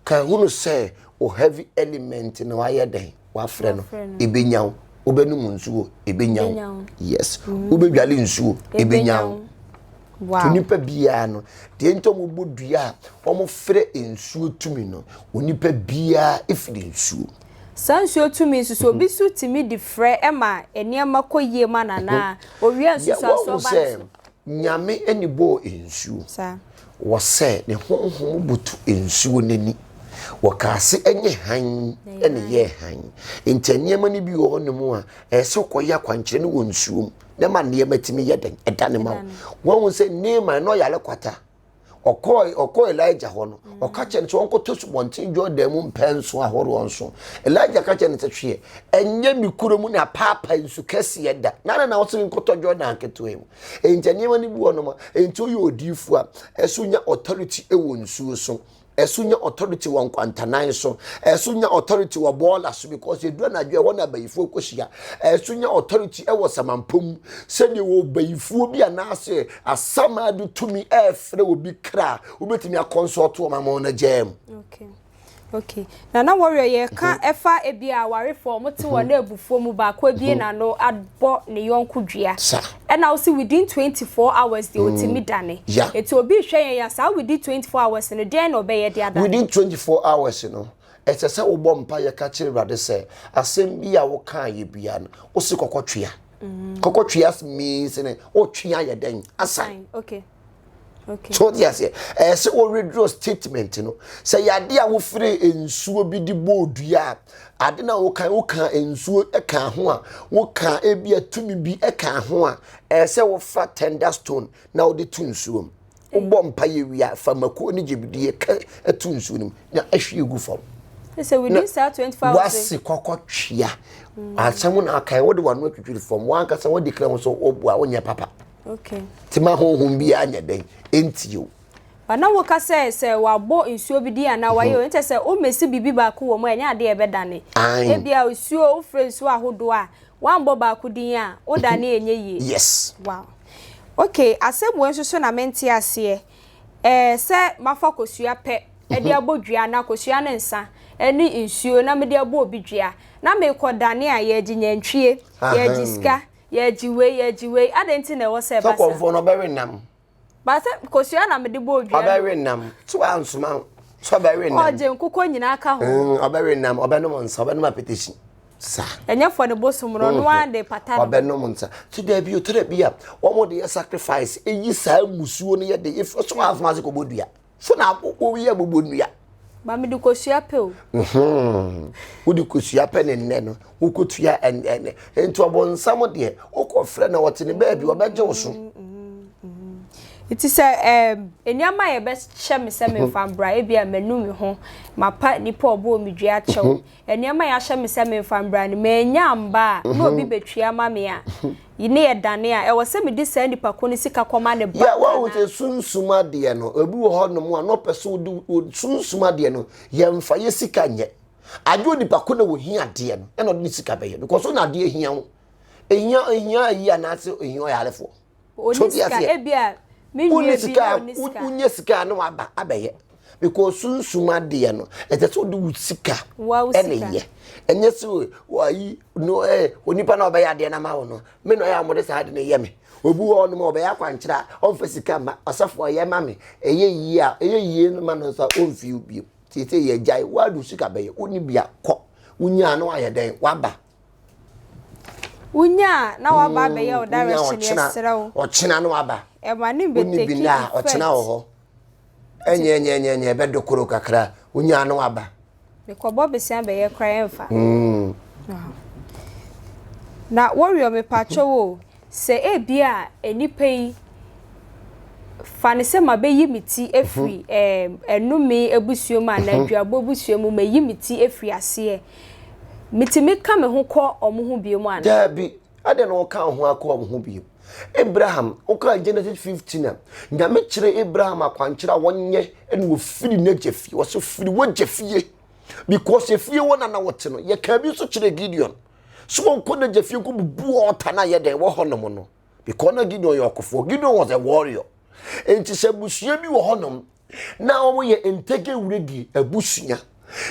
ka hunu sɛ o heavy element na wayɛ dɛn wafrɛ no ebenya wo wobɛnum nsuo ebenya wo yes wobɛdwale nsuo ebenya wo. Wow. Onipa biara no, deɛ nti wɔn bɔ dua a wɔn frɛ nsuo tumi no, onipa biara efiri nsuo mu. Saa nsuo tumi nso so obi so tumi de frɛ ɛma nneɛma kɔ yie ma no anaa owia nsusu asoɔ ba no so. Nyame ɛni bɔɔ nsuo. Saa. Wɔsɛ ne honhom butu nsuo n'ani. Wɔkaase ɛnyɛ hann ɛna yɛ hann. Nti nneɛma no bi wɔ hɔ nom a ɛsɛ kɔ yɛ akwankyerɛ no wɔ nsuo mu. na ɛma nneɛma tumi yɛ den ɛda ne ma wo wɔn ho sɛ Naaman na ɔyare kwata ɔkɔɔ ɔkɔɔ Elijah hɔ no mm. ɔka kyerɛ no sɛ ɔnkɔtɔ subɔnten Jordan mu mpɛn nso ahoroɔ nso Elijah ka kyerɛ no sɛ hweɛ ɛnyɛ me kuro mu na paapa nsu kɛseɛ da na na na ɔsɛ nkɔtɔ Jordan ketewa mu ɛnti nneɛma no bi wɔ nom a ɛnti woyɛ odiifo a ɛso nya authority ɛwɔ nsuo so ɛso nya authority wɔ nkwantanan so ɛso nya authority wɔ bɔɔla so because edu anadwo ɛhɔ na abayifoɔ kɔhyia ɛso nya authority ɛwɔ samanpo mu sɛdeɛ wɔ bayifoɔ bi anaasɛ asamaa de tumi ɛɛfrɛ obi kra wobɛtumi akɔnsɔɔto wɔn ama wɔn agyaa mu. okay okay Nana Warrior yɛka ɛfa ebi a awarefoɔ ɔmo te wɔn abufuo mu baako abie n'ano abɔ ne yɔnko dua ɛna wosi within 24 hours deɛ otimi dane eti obi rehwɛ yɛn ya saa within 24 hours no deɛn na ɔbɛyɛ de adane. Within 24 hours no ɛsɛ sɛ wobɔ mpaeɛ ka kyerɛ awurade sɛ asɛm bi a wokaa yɛ bia no wosi kɔkɔ twea kɔkɔ twea means ne wotwea yɛ dɛn asan. Okay. so de aseɛ ɛyɛ sɛ wɔ withdraw statement no sɛ yɛade a wofiri nsuo bi de bɔɔ dua a ade na woka woka nsuo ka ho a woka ebi a tumi bi ka ho a ɛyɛ sɛ wofa tender stone na wode to nsuo mu wobɔ mpa yɛ wia fa mako ne gyebidie ka to nsuo no mu na ahwie gu fam wase kɔkɔ twea mm. asɛm na aka wode wano atwitwiri fam wankasa wode kra ho sɛ wobua wonyɛ papa Okay. Ti ma honhom bi anyɛ dɛn ɛntie o. Ba na woka sɛ sɛ wabɔ nsuo bi di anaa wayɛ o mhm. nkyɛ sɛ womɛsi biribi baako wɔ mu a ɛnyɛ adeɛ ɛbɛdane. Ebia nsuo wofrɛ nsuo ahodoɔ a wambɔ baako din a wodane mhm. ɛnyɛ yie. Yes. Wow. Okay, asɛm wei nso so na mente aseɛ. Ɛɛ eh, sɛ mafa kosua pɛ ɛde mhm. abɔ dua na kosua ne nsa ɛne nsuo na mede abɔ obi dua na mekɔ dane a yɛgye nyantwie yɛgye sika Yɛgye wei, yɛgye wei, adɛn nti na ɛwɔ sɛ ɛba saa? Sɛ kɔmfoɔ no ɔbɛwe nam. Ba sɛ kosua na mede bɔ odua no. Ɔbɛwe nam, sɛ wansoma sɛ ɔbɛwe nam. Ɔgye nkokɔ nyinaa ka ho. Mm, ɔbɛwe nam, ɔbɛnom nsa, ɔbɛnom apetehyi. Sa. Ɛnyɛ fɔ ne bosom no, ɔno ara de pata no. Ɔbɛnom nsa. Sɛ daabi otara bi a, wɔn de yɛ sacrifice, eyi saa musuo no yɛ de, efo so asoma ase kɔbɔ dua. So na wo yɛ bobɔ nnua. Ba mi de kosua pɛ o. Wo de kosua pɛ ne nnɛ no wo kɔ tua ɛnɛ nti ɔbɔ nsam deɛ wo kɔ frɛ na ɔte ne baabi ɔbɛ gye wo so. Nti sɛ ɛɛm nneɛma yɛ bɛ hyɛ me sɛ me nfa mbra ebi a manu me ho ma pa nipa ɔbɔ mi dua kyɛw Nneɛma a yɛahyɛ me sɛ memfa mbra no, mannya amma a, na obi betua ama me a, ne yɛ dane a, ɛwɔ sɛ mede saa nipa ko no sika kɔma ne ba anaa? Wahu sɛ sunsum adeɛ no, obi wɔ hɔ nom a na ɔpɛ sɛ ɔde sunsum adeɛ no, yɛmfa yɛ sika nyɛ. Agye onipa ko na ɔhia adeɛ no, ɛna ɔde ne sika bɛyɛ, because ɔnya adeɛ hia ho, ɛhia ayi anaasɛ ɛhia ɔyarefoɔ. Ɔni sika ebi a me nua bi na ɔni sika. Wonya sika a na waba abɛyɛ because sunsum adeɛ no ɛsɛ sɛ wode wo sika ɛna ɛyɛ ɛnyɛ sɛ wayi no ɛ onipa na ɔbɛyɛ adeɛ no ama wo no me na ɔyɛ a wɔde saa ade no yɛ me obi wɔ hɔ nom a ɔbɛyɛ akwankyerɛ a ɔmfa sika ma ɔsɔfoɔ yɛ ma me ɛyɛ yie a ɛyɛ yie no ma no nso a ɔmfii wo bio sɛ sɛ yɛgyae woade wo sika bɛyɛ wonni bia kɔ wonyaa no ayɛ dɛn waba Wunya a na waba abɛyɛ wo direction yɛsrɛ wo. Ɔkyena no aba. Ɛma ne bɛtɛki bi na ɔkyena wɔ hɔ. Ɛnyɛ ɛnyɛ ɛnyɛ ɛnyɛ ɛbɛdo koro kakra wunya no aba. Mekɔbɔ besia bɛyɛ kora ɛmfa. Na wɔwiɔ mepatwɔ wo Sɛ ebia nnipa yi fa no sɛ mabeyi me ti afiri ɛnome abusua mu anaa aduabɔ abusua mu, mayi me ti afiri aseɛ, metumi ka me ho kɔ wɔn ho bio mu anaa? Daabi. Adɛn na woka wo ho akɔ wɔn ho bio? Abraham, wokaa Genesis 15 a, Nyame kyerɛɛ Abraham akwankyerɛ a wɔnyɛ na wɔfiri n'agya fie. Wɔse firi w'agya fie, because efie hɔ na na wɔte no. Yɛkaa bi nso kyerɛɛ Gideon. So wɔnkɔ n'agya fie nkɔ bubu ɔɔta no a yɛ dɛn wɔ hɔnom no because na Gideon yɛ ɔkofoɔ Gideon was a warrior nti sɛ abusua bi wɔ hɔnom na wɔyɛ ntɛgɛ wuredie abusua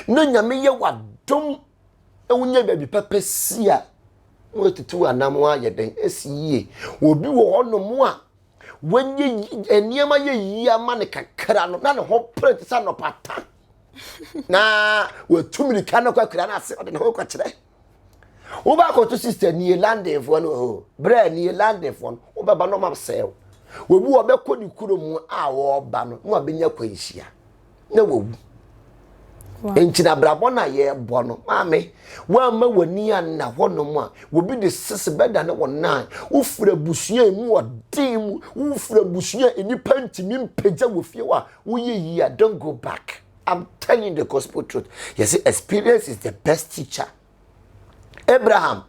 na nyame yɛ wadom wonya baabi papa si a wɔatutu anam ayɛ dɛn asi yie obi wɔ hɔnom a wɔnyɛ nneɛma yɛ yie ama no kakra no na ne ho pere te sɛ anɔpa ta na watu mirika no kɔakura no ase ɔde ne ho kɔkyerɛ wobɛakɔto sister nie landenfoɔ no wɔ hɔ berɛ nie landenfoɔ no wobɛba no ɔma sɛe wo wɔbi wɔbɛkɔ ne kuro mu a wɔba no na wabɛnya kwanhyia na wawu nti na abrabɔ no a yɛbɔ no maame woamma w'ani anna hɔnom a wɔbi de sese bɛda ne wɔnan wofiri abusua mu ɔden mu wofiri abusua nnipa ntumi mpagya wɔ fie hɔ a Wo yɛ yie a don't go back I'm telling the gospel truth yɛ sɛ experience is the best teacher Abraham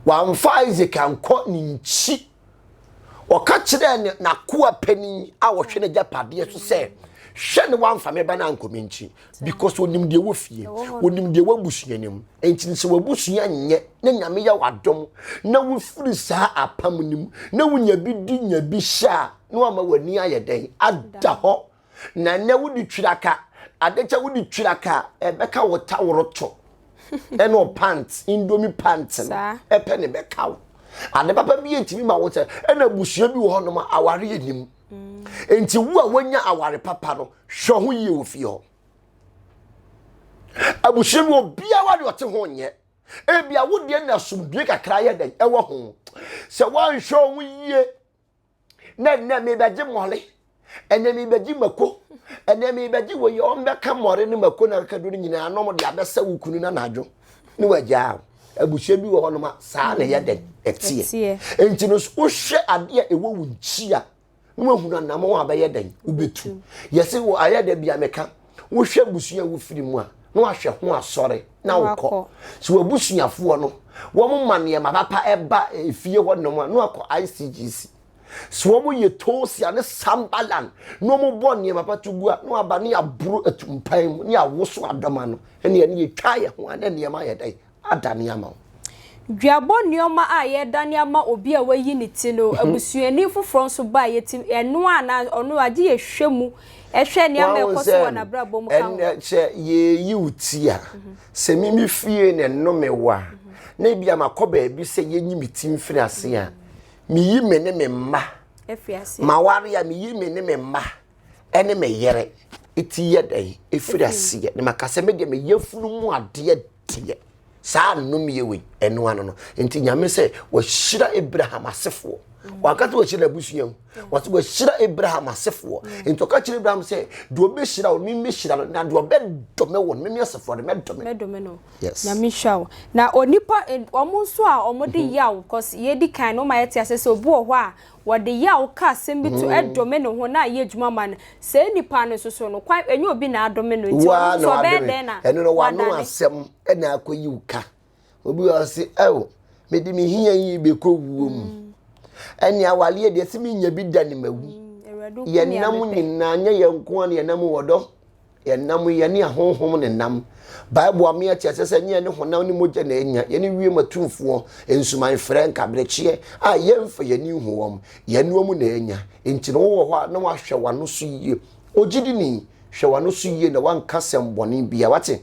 wamfa Isaac ankɔ ne nkyi ɔka kyerɛɛ ne n'akoa panin a ɔhwɛ n'agyapadeɛ so sɛ hwɛ ne wamfa me ba no ankɔ me nkyi because onim deɛ wɔ fie onim deɛ wɔ abusua no mu nti sɛ w'abusua nyɛ na nyame yɛ w'adom na wofiri saa apam no mu na wonya bi di nya bi hyɛ a na wama w'ani ayɛ dɛn ada hɔ na ɛnɛ wode twiraka adekyɛ wode twiraka ɛbɛka wo taworoto ɛne ɔpant indomi pant no ɛpɛ ne bɛka wo ade papa bi ɛtumi ma wo sɛ ɛna abusua bi wɔ hɔ nom aware anim mm. nti wo a woanya aware papa no hwɛ ho yie wɔ fie hɔ abusua bi obiara de ɔte ho nyɛ ebia wo deɛ na asomdue kakra yɛ dɛn ɛwɔ ho sɛ woanhwɛ ho yie na nnɛ mebɛgye mmɔre ɛnɛ mebɛgye mako ɛnɛ mebɛgye wɔ yɛ wɔn bɛka mmɔre ne mako na kakadu no nyinaa nom de abɛsɛ wo kunu no anadwo ne wagyaa abusua bi wɔ hɔ nom a saa na ɛyɛ dɛn ɛteɛ nti no wohwɛ adeɛ a ɛwɔ wo nkyi a na wahunu anamɔ a bɛyɛ dɛn wobɛtu yɛse wɔ ayɛ da bia meka wohwɛ abusua a wofiri mu a na wahwɛ ho asɔre na wokɔ so wabusuafoɔ no wɔn ma nneɛma papa ɛba efie hɔ nom a na wakɔ icgc so wɔn yɛ toosia ne sambalan na wɔn bɔ nneɛma papa to gu a na waba ne aburo atumpan mu ne awoso adɔma no ɛnna ɛne yɛtwa yɛ ho a na nneɛma yɛ dɛ adane ama wo. Duabɔ nneɛma a yɛredane ama obi a wayi ne ti no, abusuani foforɔ nso ba a yɛtim ɛno a na ɔno agye yɛhwɛ mu hwɛ nneɛma a ɛkɔ so wɔ n'abrabɔ mu ka ho. Ɛnɛ kyɛ yɛreyi wo ti a, sɛ me me fie na nnome wɔ a, na ebi a makɔ baabi sɛ yɛnyi me ti mfiri ase a, meyi me ne me mma. Maware a meyi me ne me mma ɛne me yere ti yɛ dɛn ɛfiri aseɛ na maka sɛ me deɛ meyɛ funu mu adeɛ teɛ. Saa nnomyɛ wei, ɛno ano no. Nti Nyame sɛ, wahyira Abraham asefoɔ. Wanka sɛ wahyira n'abusua mu. Wɔsɛ wahyira Abraham asefoɔ. Nti ɔka kyerɛ Abraham sɛ, deɛ ɔbɛhyira wo, meme hyira no, na deɛ ɔbɛdome wo no, meme asefoɔ no, mɛdome no. Mɛdome no. Yes. Nyame hyira wo. Na onipa, wɔn nso a wɔde yaw, cause yɛdi kan no, wɔma yɛte aseɛ sɛ obi wɔ hɔ a, Wɔde yaw ka asɛm bi to dome no ho na ayɛ adwuma ma no. Saa nipa no nso so no, kwan ɛnyɛ obi na adome no, nti ɔno nso ɔbɛyɛ dɛn na wadane? Ɛno no, w'ano asɛm na akɔyi wo ka. Obi wɔ hɔ ɔse, Ao, mede me hia yi bɛkɔ wuo mu. Ɛne awareɛ deɛ, se menya bi da ne mawu. Yɛn nam nyinaa, nyɛ yɛn nko ara na yɛn nam wɔ dɔ. Yɛnam yi, yɛne ahonhom na ɛnam. Bible ame yɛte aseɛ sɛ ɛnyɛ yɛne honam ne mogya na ɛnya, yɛne wiem atumfoɔ, nsuman frɛ, nkaberekyeɛ a yɛmfa yɛn ani nhu wɔn, yɛne wɔn na ɛnya. Enti no wowɔ hɔ a, na wahwɛ w'ano so yie. Ogyidini, hwɛ w'ano so yie na wanka sɛm bɔne bia. Wate?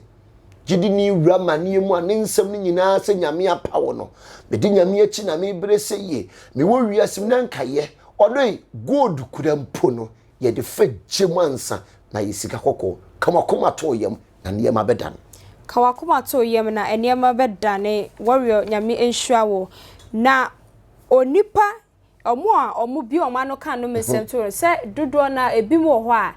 Gyidini wura amaneɛ mu a ne nsɛm no nyinaa sɛ Nyame apaw no. Medi Nyame akyi na mebere sɛ yie. Mewɔ wiase mu na nka yɛ. Ɔdɔ yi, gold kura mpo no, yɛde fa gya mu ansa na ayɛ sika kɔkɔɔ. Ka w'akoma to yam na nneɛma bɛdane. Ka w'akoma to yam na nneɛma bɛdane Warrior Nyame nhyira wo na onipa ɔmo a ɔmo bue ɔmo ano ka nnome nsɛm to no sɛ dodoɔ no ara ebinom wɔ hɔ a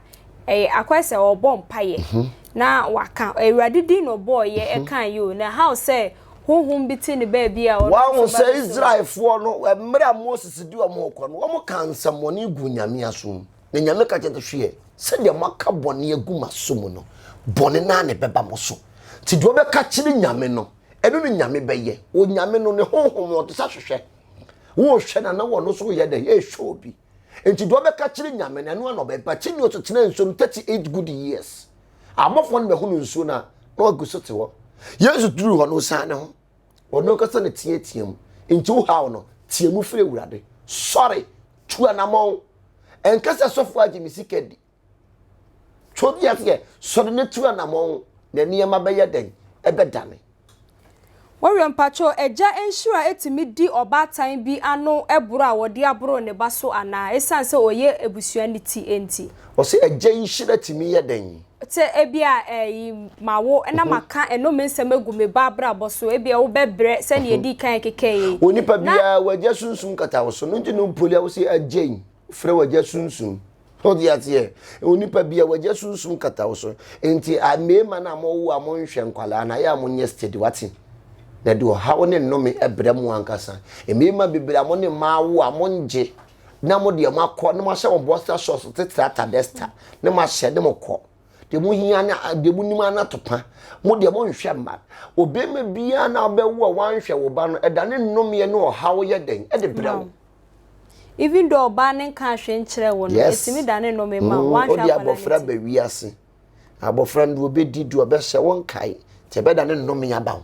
ɛyɛ akɔyɛ sɛ ɔɔbɔ mpaeɛ na waka awurade din na ɔbɔɔ yɛ ɛkaeɛ o na how sɛ Honhom bi te ne baabi a ɔno nso Wɔahu sɛ bɛbɛsom. Israelfoɔ no, mmerɛ a Moses de wɔn rekɔ no, wɔkaa nsɛmmɔne guu Nyame aso mu. Na Nyame ka kyerɛɛ no sɛ, Hwɛ, sɛdeɛ moaka bɔne agu m'aso mu no, bɔne no ara na ɛbɛba mo so. Nti deɛ wobɛka akyerɛ Nyame no, ɛno na Nyame bɛyɛ. Onyame no, ne Honhom no, ɔte sɛ ahwehwɛ. Worehwɛ no a, na ɔno nso reyɛ dɛn? Rehwɛ obi. Nti deɛ ɔbɛka kyerɛ nyame no ɛno ana ɔbɛba. Kyi nso tena nsuo no 38 good years. Abɔfoɔ no bɛhono nsuo no a na wagu so te hɔ. Yesu duru hɔ no ɔsan ne ho. Ɔno kasa na teatea mu. Nti wo haw no tea mu frɛ awurade. Sɔre, tu anamɔn. Ɛnkasa sɔfoɔ agye me sika di. So obi aseɛ sɔre no tu anamɔn na nneɛma bɛyɛ dɛn? Ɛbɛdane. Wɔyɔ mpakyɛw agya nhyira tumi di ɔbaatan bi ano boro a wɔde aboro ne ba so anaa esiane sɛ ɔyɛ abusua no ti nti? Wɔse agya nhyira tumi yɛ dɛn? Sɛ ebia ɛyi mawo na maka ɛnome nsɛm agu me ba abrabɔ so ebia wobɛbrɛ sɛnea edi kan kekɛɛ yi. Onipa biara wagya sunsum kata wo so no nti na ɔpoli a wɔse agya yi. Frɛ w'agya sunsum. Wode aseɛ? Onipa bi a w'agya sunsum kata wo so. Nti a mmarima no a mowo a monhwɛ nkwadaa no, ayɛ a monyɛ steady, wate? Na de ɔhaw ne nnome brɛ mo ankasa. Mmarima bebree a mo ne mmaa wo a mongye na mo deɛ moakɔ na moahyɛ mo boxer shorts titire atadɛsta na moahyɛ ne mo kɔ. Deɛ mohia ne deɛ monim ara no atopa. Mo deɛ monhwɛ mma. Ɔbarima biara na wobɛwo a wanhwɛ wo ba no, ɛdane nnomeɛ ne ɔhaw yɛ dɛn de brɛ wo. Even though ɔbaa no nkaa hwee nkyerɛɛ wo no, Yes. ɛtumi dane nnome ma wo, Mm, woanhwɛ Wode akwadaa no abɔfra ti. ba wiase. Abɔfra no deɛ ɔbɛdi, deɛ ɔbɛhyɛ, wonkae. Nti ɛbɛdane nnome aba wo.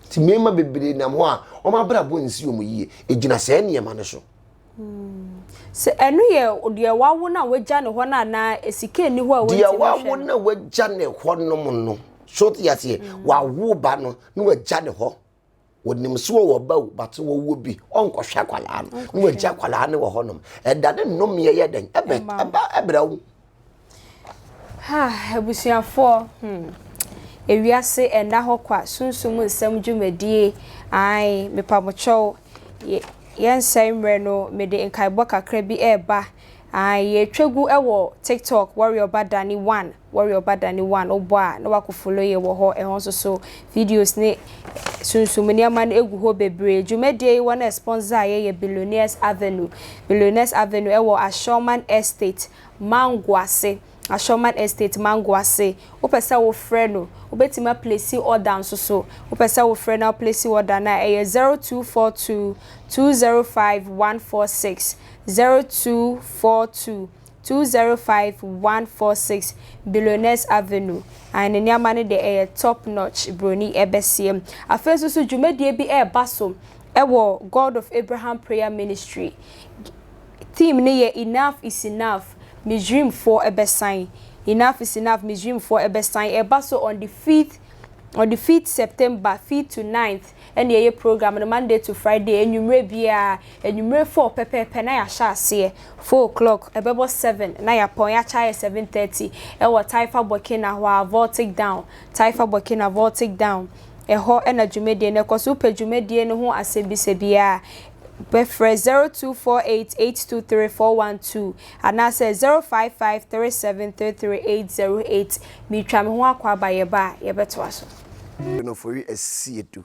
Nti mmarima bebree nam hɔ a, wɔn abrabɔ nsi wɔn yie. Ɛgyina saa nneɛma no so. Sɛ ɛno yɛ deɛ wawo no a wagya no hɔ no anaa sika nni hɔ a Deɛ wɔntumi wawo hwɛ no. na wagya ne hɔ nom no, so te aseɛ, wawo ba no na wagya ne hɔ. wɔnim so wɔ wɔba o but wɔwɔ bi ɔnkɔhwɛ akwadaa no na wɔagye akwadaa no wɔ hɔnom ɛda ne nnomeɛ yɛ dɛn ɛbɛ ɛba ɛbrɛ wo ha abusuafoɔ hmm ewiase ɛnna hɔ kwa sunsun mu nsɛm dwumadie ae mepamokyɛw yɛnsɛe mmerɛ no mede nkaebɔ kakra bi ɛreba ae yɛtwa gu ɛwɔ tiktok warrior ba dani one Warrior ba da ne one wo bɔ a na wa ko follow yɛ wɔ hɔ ɛhɔ nso so videos ne sunsum nneɛma no egu hɔ bebree dwumadie yi wɔ na sponsor a yɛ yɛ billionaires avenue billionaires avenue ɛwɔ Ashorman estate mango ase Ashorman estate mango ase wo pɛ sɛ wo frɛ no wo bɛtumi a placing order nso so wo pɛ sɛ wo frɛ no a wo placing order no a ɛyɛ zero two four two two zero five one four six zero two four two 205 146 Billionaires Avenue, ae ne nneɛma no deɛ ɛyɛ top notch broni ɛbɛseɛ mu. Afei nso so dwumadie bi ɛreba so ɛwɔ God of Abraham Prayer Ministry, theme no yɛ Enough is Enough, Misrimfoɔ ɛbɛsan, Enough is Enough, Misrimfoɔ ɛbɛsan, ɛreba so on the 5th on the 5th September, 5th to 9th. ɛna ɛyɛ program no Monday to Friday anwummerɛ biara, anwummerɛ four pɛpɛɛpɛ na yɛahyɛ aseɛ, four o'clock, ɛbɛbɔ seven na yɛapɔn, yɛakyɛ ayɛ seven thirty, ɛwɔ Taifa Burkina hɔ ara, Voltic Down, Taifa Burkina, Voltic Down, ɛhɔ na dwumadie no kɔ. So wopɛ dwumadie no ho asɛmmisa biara a, bɛfrɛ zero two four eight eight two three four one two anaasɛ zero five five three seven three three eight zero eight. Meretwa me ho akɔ aba, yɛba a yɛbɛtoa so. Nɔfɔri Asiedu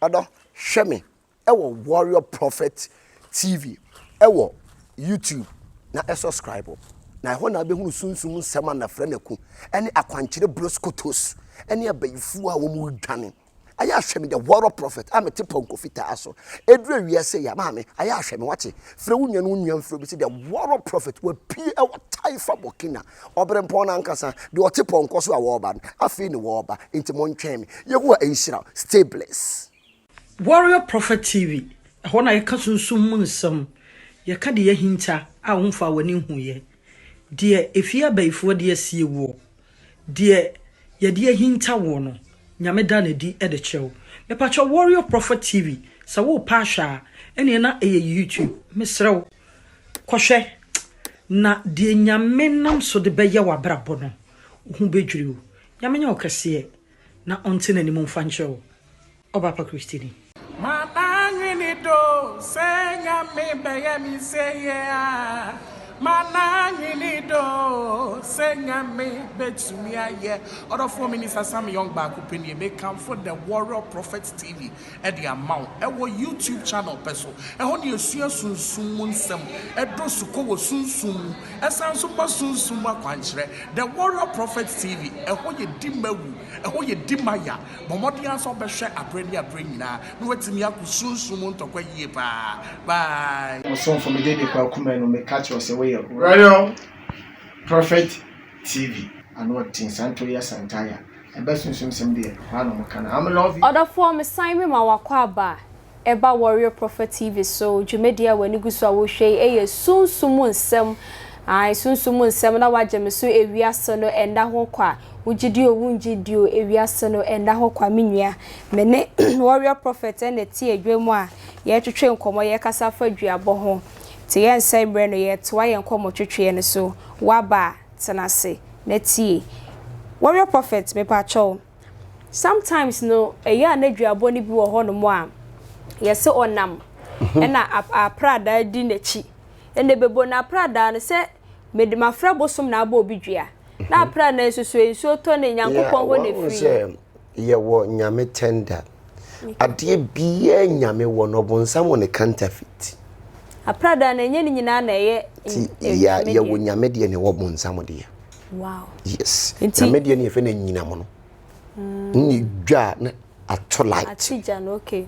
Ɔdɔ Hwɛ me ɛwɔ Warrior Prophet TV ɛwɔ YouTube na ɛsɔskraibo na ɛhɔ na abɛhunu sunsum nsɛm a Nafrɛ Naku ɛne Akwankyerɛ Broskotos ɛne abayifuo a wɔn redwane Ayɛ ahwɛ me the Warrior Prophet a mete pɔnkɔ fitaa so ɛduru awia sei a maame ayɛ ahwɛ me wate Frɛ wo nua ne wo nua mfrɛ obi sɛ the Warrior Prophet wapue ɛwɔ Taifa Burkina Ɔberempɔn no ankasa, deɛ ɔte pɔnkɔ so a ɔreba no, afei na ɔreba, enti montwɛn me. Yehowa nhyira wo. Stay blessed. Warrior Prophet TV, ɛhɔ na yɛka sunsum mu nsɛm, yɛka deɛ ahinta a womfaa w'ani nhuiɛ, deɛ efie abayifoɔ adi asie woɔ, deɛ yɛde ahinta woɔ no, Nyame da no adi de kyerɛ wo. Mepakyɛw Warrior Prophet TV, sɛ worepɛ ahwɛ a, ɛneɛ na ɛyɛ YouTube. Mesrɛ wo. Kɔhwɛ, na deɛ Nyame nam so de bɛyɛ w'abrabɔ no, wo ho bɛdwiri wo. Nyame nyɛ ɔkɛseɛ, na ɔnte n'anim mfa nkyerɛ wo. Ɔbaapa Kristoni. Maba nwene do sɛ Nyame bɛyɛ me sɛiɛ a, mana nwene do sɛ Nyame bɛtumi ayɛ. Ɔdɔfoɔ Minister Sam Young baako pɛ nie, mekamfo The Warrior Prophet TV. de ama wo wɔ YouTube channel pɛ so. Ɛhɔ na yɛsua sunsum mu nsɛm, ɛdɔ sukɔ wɔ sunsum mu, ɛsan nso ma sunsum mu akwankyerɛ. The Warrior Prophet TV, ɛhɔ yɛ di ma wu, ɛhɔ yɛ di ma ya. Bɔ mmɔden ara sɛ wobɛhwɛ aberɛ ne aberɛ nyinaa na woatumi ako sunsum mu ntɔkwa yie paa. Bye. Ɔsomfo Mede de Kwaku Manu meka kyerɛ wo sɛ woyɛ Warrior Prophet TV ano ɔdzen saa ntori asantaa ya ɛbɛ sunsum sɛm deɛ hwaa na ɔmo ka no I'm love you. Ɔdɔfoɔ mesan mema wo akwaaba a ɛba Warrior Prophet TV so, dwumadie a w'ani gu so a wohwɛ yi ɛyɛ sunsum mu nsɛm, ae sunsum mu nsɛm na wagye me so ewiase no ɛnda ho kwa, wogye di o wongye di o ewiase no ɛnda ho kwa me nua, me ne Warrior Prophet ɛna ɛte adwa mu a yɛretwetwe nkɔmmɔ yɛrekasa afa duabɔ ho. Te yɛn sɛ mmerɛ no yɛretoa yɛn nkɔmmɔtwetweɛ no so W'aba a, tena ase na tie Warrior Prophet, mepakyɛ wo, sometimes no ɛyɛ a n'aduabɔ no bi wɔ hɔnom a yɛse ɔnam ɛna apradaa di n'akyi ɛna ɛbɛbom na apradaa no sɛ mede mafrɛ bosom na abɔ obi dua na apradaa no nsusuɛ nsuo tɔ no Nyankopɔn hɔ na ɛfiri. Yɛwɔ Nyame tɛnda. Adeɛ biaa Nyame wɔ no, ɔbonsam wɔ no counterfeit. Aprada no ɛnyɛ ne nyinaa na ɛyɛ Nyame deɛ. Yɛwɔ Nyame deɛ na ɛwɔ bonsam deɛ. Wow. Yes. Nyame deɛ no yɛfɛ no anyinam no. Ne dwa na ato light. Ate gya no, okay.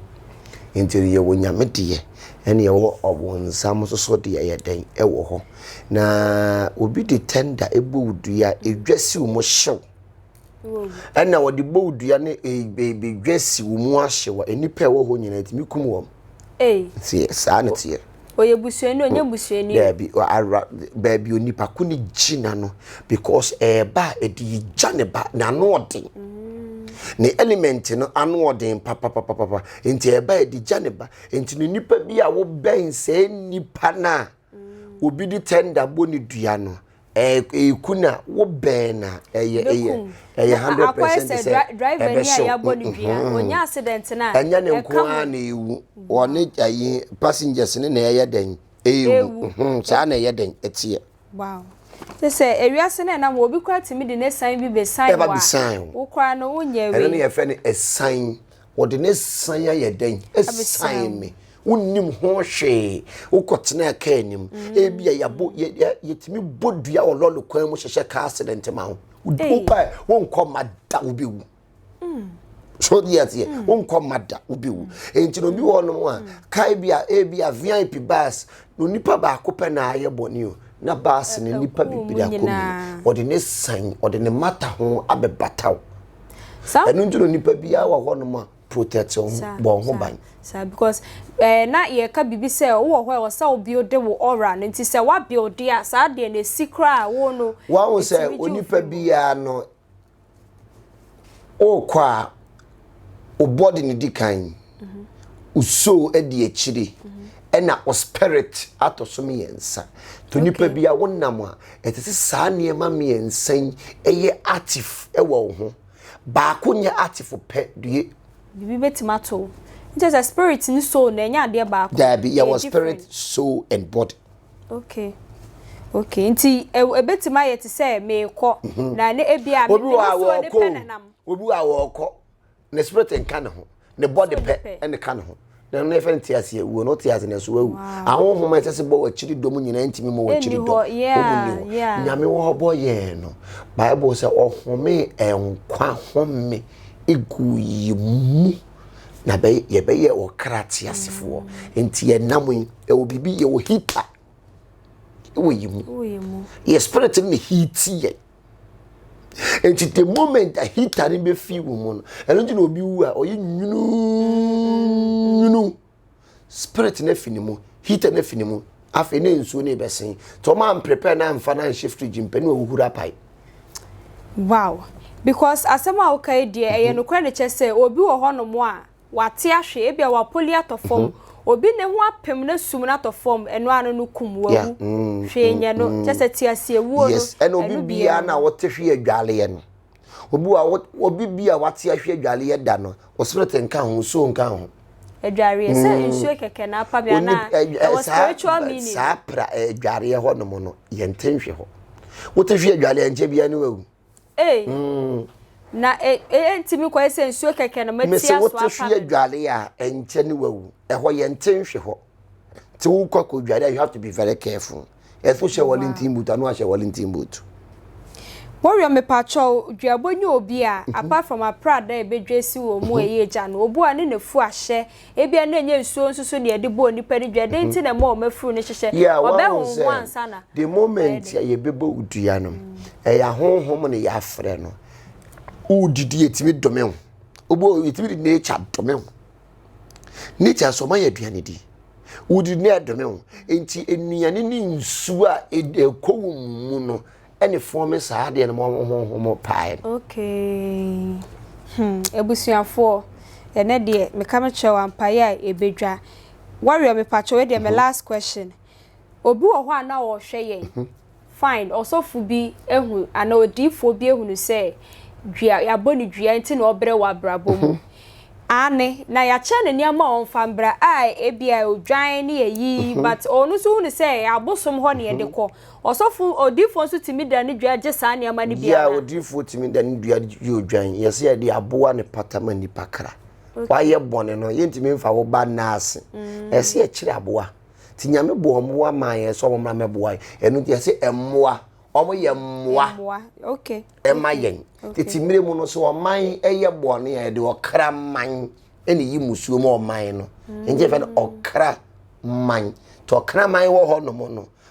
Nti yɛwɔ Nyame deɛ ɛne ɛwɔ ɔbonsam soso deɛ yɛ dɛn ɛwɔ hɔ. Na obi de tɛnda ɛbɔ wo dua, ɛdwa si wo mo hyew. ɛna wɔde bɔ dua ne dwa si wo mu ahye wa nnipa a ɛwɔ hɔ nyinaa tumi kum wɔn nti saa ne teɛ ɔyɛ busuani ɔnyɛ busuani daabi ara baabi onipa ko ne gyina no because ɛɛba a ɛde yi gya ne ba n'ano ɔden ne element no ano ɔden papapapapa nti ɛɛba ɛde gya ne ba nti no nipa bi a wobɛn sɛ nipa no a obi de tender bɔ ne dua no ɛku na wo bɛn na ɛyɛ ɛyɛ ɛyɛ hundred percent sɛ ɛbɛhyɛ ɛnyɛ ne nko ara na ewu wɔne ɛyi passengers ne na ɛyɛ dɛn ewu saa na ɛyɛ dɛn ɛteɛ. te sɛ ewiase na ɛnam obi kora tumi de ne san bi besan wa wokora no wonyɛ wei ɛno na yɛfɛ no ɛsan Wɔde ne san ayɛ dɛn? Ɛsan me. Wonnim ho hwee. Wokɔtenaa kaa anim. Mm. Ebia yɛabɔ yɛtumi bɔ dua wɔ lɔre kwan mu hyehyɛ car accident ma wo. Woba wonkɔ mma da wobɛwu. Mm. So deɛ aseɛ mm. wonkɔ mma da wobɛwu. Enti na obi wɔ hɔnom a kaa ebia ebia VIP bus na onipa baako pɛ na ayɛ bɔne o na bus ne nipa bebree akɔ mu. Wɔde ne san wɔde ne mata ho abɛbata wo. Sa. Ɛno nti no nipa biara wɔ hɔ nom a protect wɔn ho bɔ wɔn ho ban. Sa because ɛɛ eh, na yɛka bibi sɛ wowɔ hɔ ɛwɔ sɛ wo build wo aura no nti sɛ wa build a saa deɛ na esi koraa wo no. Wɔn sɛ onipa biara no okɔ a o body no di kan. Osoo adi akyiri na wo spirit atɔ so mmiɛnsa. Nti onipa bi a wonam a, ɛsɛ sɛ saa nneɛma mmiɛnsa yi yɛ active wɔ wo ho. Baako nyɛ active pɛ deɛ. Biribi bɛtumi ato wo. Nti kyerɛ sɛ spirit ne soul no ɛnyɛ adeɛ baako? Daabi, yɛwɔ spirit, soul and body. Okay, okay. Nti ɛbɛtumi ayɛ te sɛ merekɔ na ebia me nsuo no pɛ na nam. Obi wɔ hɔ a ɔrekɔ. ne spirit nka ne ho ne bɔde pɛ ɛne ka ne ho na ɛno yɛfɛ no te ase awuo no wote ase na ɛso wawu ahohoma ɛsɛ sɛ bɔ wɔakyiri dɔ mu nyinaa ntumi ma wɔakyiri dɔ ɔmu ni hɔ nyame wɔ hɔ bɔ yɛn no bible sɛ ɔhome nkwa home egu yi mu na yɛbɛyɛ ɔkra te asefoɔ nti yɛnam yi ɛwɔ biribi yɛwɔ hita ɛwɔ yi mu yɛ spirit no ne hiti yɛn nti the moment a heater no bɛ fi wɔn mu no ɛno nti na obi wu a ɔyɛ nwununwunu spirit no afi ne mu heater no afi ne mu afei ne nsuo no bɛ sen tí wɔn an prepare na nfa na nhyɛ fridge mpɛ ne ɔwuhuru apae. wow because asɛm a woka yi deɛ ɛyɛ mhm. nokorɛ de kyɛ sɛ obi wɔ hɔnom a W'ate ahwe, ebia w'apoli atɔ fɔm, obi ne ho apem na sum no atɔ fɔm, ɛno ano no kum, wawu, hwee nyɛ no, kyɛ sɛ te ase awuo no, ɛno biara no. Yes, ɛna obi biara na wote hwe adwaleɛ no, obi wa, obi bi a w'ate ahwe adwaleɛ da no, o spirit nka ho, nsuo nka ho. Adwareɛ, sɛ nsuo kɛkɛ na apa bi anaa, ɛwɔ spiritual meaning. Saa pra adwareɛ hɔ nom no, yɛnte nhwe hɔ. Wote hwe adwaleɛ nkyɛ biara no wawu. Ei! Na ɛyɛ nti me kɔyɛ sɛ nsuo kɛkɛ no mɛtia so apa me. Mese wote so yɛ dware a ɛnkyɛ ne wawu. Ɛhɔ yɛ nte nhwe hɔ. Te wo kɔ kɔ dware a you have to be very careful. Ɛfo hyɛ Wellington boot ano ahyɛ Wellington boot. Warrior mepakyɛ wo dwuabɔ nyɛ obi a apart from aprada a ɛbɛdwa asi wɔ mu a ɛyɛ gya no obu a ne na fu ahyɛ Ebia na ɛnyɛ nsuo nso so na yɛde bɔɔ nnipa no dua. Dɛn nti na ɛma wɔn afuru no hyehyɛ? Yeah, wahu Wɔbɛhoho ho sɛ ansa na. the moment a yɛbɛbɔ wo dua no ɛyɛ ahonhom na yɛafrɛ no wodidi yɛtumi dome wo wobɔ yɛtumi de nature dome wo nature nso ɔma yɛ aduane di wodidi na ɛdome wo nti nnuane ne nsuo a ɛd- ɛkɔ wo mu no ɛne fɔn me saa adeɛ no ma ɔmo honhom pae no. Okay hmm abusuafoɔ ɛnɛ deɛ meka mekyerɛ wo ampaeɛ a ɛbɛdwa Warrior mepakyɛ wei deɛ me mhm. last question obi wɔ hɔ a na ɔhwɛ yɛn mhm. fine ɔsɔfo bi ehu ana odiifoɔ bi ehu no sɛ dua yɛabɔ ne dua nti na ɔbrɛ wɔ abrabɔ mu mhm. ane na yɛakyɛ ne nneɛma a ɔmfa mbra a ebi a odwan ne yɛyi but ɔno nso hu no sɛ abosom hɔ ne yɛde kɔ Ɔsɔfo odiyifoɔ nso tumi da ne dua gye saa nneɛma no bi anaa? Yeah, odiyifoɔ tumi da ne dua gye odwan. Yɛ sɛ yɛde aboa ne pata ma nipa kra. Okay. Wayɛ bɔne no, yɛntumi nfa wo ba nna ase. Mm. Ɛsɛ yɛkyerɛ aboa. Ti nyame bɔ mmoa maa yɛn sɛ wɔn mmra mɛboa yɛn. Ɛno nti yɛsɛ mmoa. Wɔn yɛ mmoa. Mmoa, okay. Ɛma yɛn. Okay. Tete mmerɛ mu no sɛ ɔman ɛyɛ bɔne a yɛde ɔkra man ɛna yi musuo mu ɔman no. Mm. Nti yɛfɛ no ɔkra man. Tɔ ɔkra man wɔ hɔ nom no.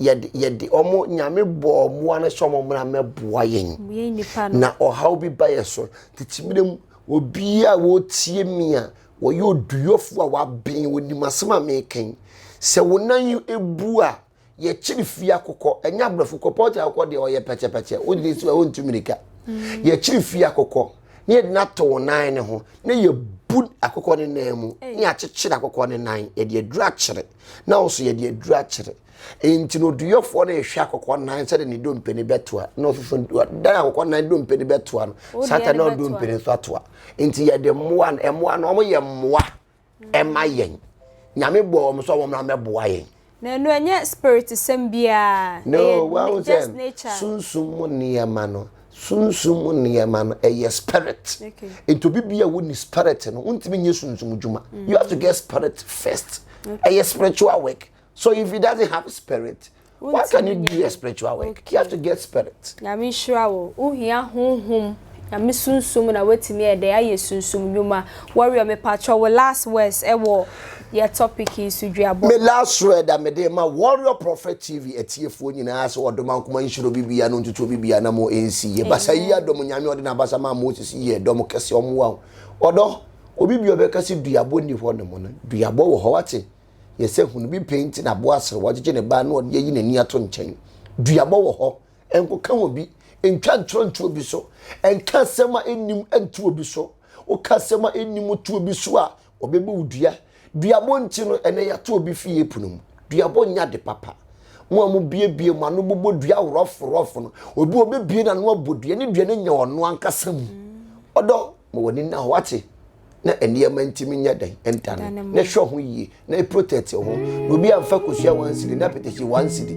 yɛde yɛde wɔn nyame bɔɔ mmoa no sɛ wɔn mmra mɛboa yɛn na ɔhaw bi ba yɛ so tete mmerɛ mu obi a wɔtie mi a wɔyɛ oduyɔfo a waben wɔnim asɛm a mekan sɛ wo nan yi ebu a yɛkyere fie akokɔ ɛnyɛ aborɔfo kɔ pɔtɛ akokɔ deɛ ɔyɛ pɛkyɛpɛkyɛ wogye si a wontu mmirika mm. yɛkyere fie akokɔ na yɛde no ato wo nan ne ho na yɛbu akokɔ ne nan mu na yɛakyekyere akokɔ ne nan yɛde aduru akyere na ɔso yɛde aduru akyere nti na oduyɔfoɔ no ɛhwɛ akɔkɔ nan sɛde ne dompe no bɛtoa na ɔsoso dan akɔkɔ nan dompe no bɛtoa no sata na ɔdompe no nso atoa nti yɛde mmoa no mmoa no wɔn yɛ mmoa ɛma yɛn nyame bɔ wɔn sɛ wɔn na mɛboa yɛn. na ɛnu ɛnyɛ spirit sɛm biara. no wɔn sɛ sunsum mu nneɛma no sunsum mu nneɛma no ɛyɛ spirit nti obi bi a wonni spirit no wontumi nyɛ sunsum dwuma mm. you have to get spirit first ɛyɛ spiritual work so if he doesn't have spirit what can you do a spiritual work okay. you have to get spirit. nyame nhyira wo wohia honhom nyame sunsum na woatumi ɛdɛ ayɛ sunsum nnwuma wɔreɔ mepatrɔ wo last words ɛwɔ Yɛ topic yi so duabɔ. Me last word a mede rema Warrior Prophet TV atiefoɔ nyinaa sɛ ɔdom ankoma nhyira obi biara na ɔntutu obi biara na mo nsi yɛ basa yi yɛ dɔm Nyame a ɔde n'abasa maa Moses yi yɛ dɔm kɛse ɔmmoa wo ɔdɔ obi bi ɔbɛka sɛ duabɔ nni hɔ nom no duabɔ wɔ hɔ wate yɛ sɛ hunu bi pɛi nti na aboa asere wɔgyegye ne ba na ɔde ayi n'ani ato nkyɛn duabɔ wɔ hɔ ɛnkoka wɔ bi ɛntwa ntorɔ nto obi so ɛnka asɛm a ɛnnim nto obi so woka asɛm a ɛnnim to obi so a Wɔbɛbu wo dua. Duabɔ nti no, ɛnɛ yɛato obi fie pono mu. Duabɔ nyɛ ade papa. Mo a mobiebie mo ano bobɔ dua rɔforɔfo no, obi a ɔbɛbie n'ano abɔ dua ne dua no nya ɔno ankasa mu. Ɔdɔ, ma w'ani nna hɔ, wate? Na nneɛma ntumi nyɛ dɛn ntane. Na hwɛ ho yie, na protect wo ho. Na obi amfa kosua one cedi, na apɛtɛsi one cedi.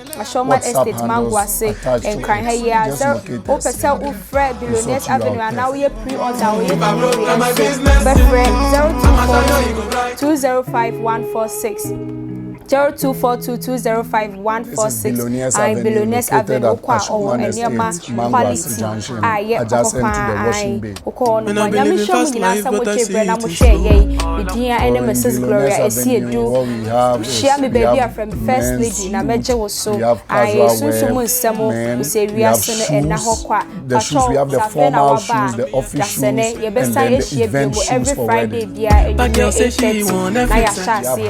Ashoma Estate, Mango ase, Nkran ha yi ara. Sɛ wopɛ sɛ wofrɛ Billionaires Avenue anaa woyɛ pre-order a, wɔyɛ delivery nso a, frɛ 0242051460, 0242205146. Ae, Billionaires Avenue, wokɔ a, wɔwɔ nneɛma quality a ɛyɛ papa paa. Ae. Mokɔɔ no, mo anyamesuro mu nyinaa sɛ mogyee berɛ na mohwɛɛ yɛn, me din a ɛne Mrs. Gloria ɛsi edu. Hyia me baabi a frɛ me First Lady na mɛgye wo so. Ae, sunsum mu nsɛm o, wo sɛ wiase no ɛnna hɔ kwa. Patrol, sɛ afei na woaba a, bra sɛnnɛ. Yɛbɛsan ahyia bio every Friday biara anwummerɛ 8:30 na yɛahyɛ aseɛ.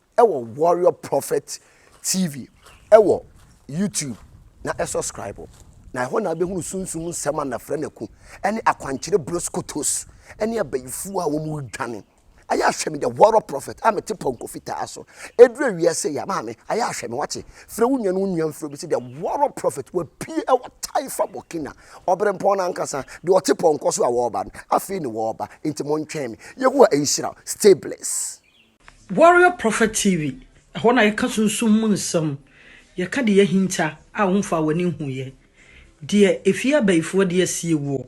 wɔ Warrior Prophet TV wɔ YouTube na subscribe na ɛhɔ na abɛhunu sunsum nsɛm a nafra naku ne akwankyerɛ broskotos ne abayifuo a wɔn redwane ayɛ ahwɛ me the Warrior Prophet a mete pɔnkɔ fitaa so ɛduru awia sɛ ya maame ayɛ ahwɛ me wate frɛ wo nua no nua mfrɛ bi sɛ the Warrior Prophet wapie ɛwɔ taifa bɔkina ɔbere mpɔn no ankasa deɛ ɔte pɔnkɔ so a wɔreba no afei ne wɔreba nti mo ntwɛn me Yehowa nhyira stay blessed Warrior Prophet TV, ɛhɔ na yɛka sunsum mu nsɛm, yɛka deɛ yɛahinta a womfaa w'ani nhuiɛ, deɛ ɛfie abayifoɔ de asie woɔ,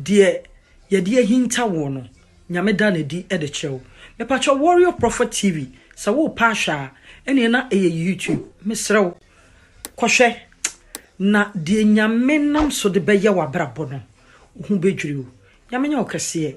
deɛ yɛde ahinta woɔ no, Nyame da no adi de kyerɛ wo. Mepakyɛw Warrior Prophet TV, sɛ worepɛ ahwɛ a, ɛneɛ na ɛyɛ YouTube, mesrɛ wo, kɔhwɛ, na deɛ Nyame nam so de bɛyɛ w'abrabɔ no, wo ho bɛdwiri wo. Nyame nyɛ wo kɛseɛ.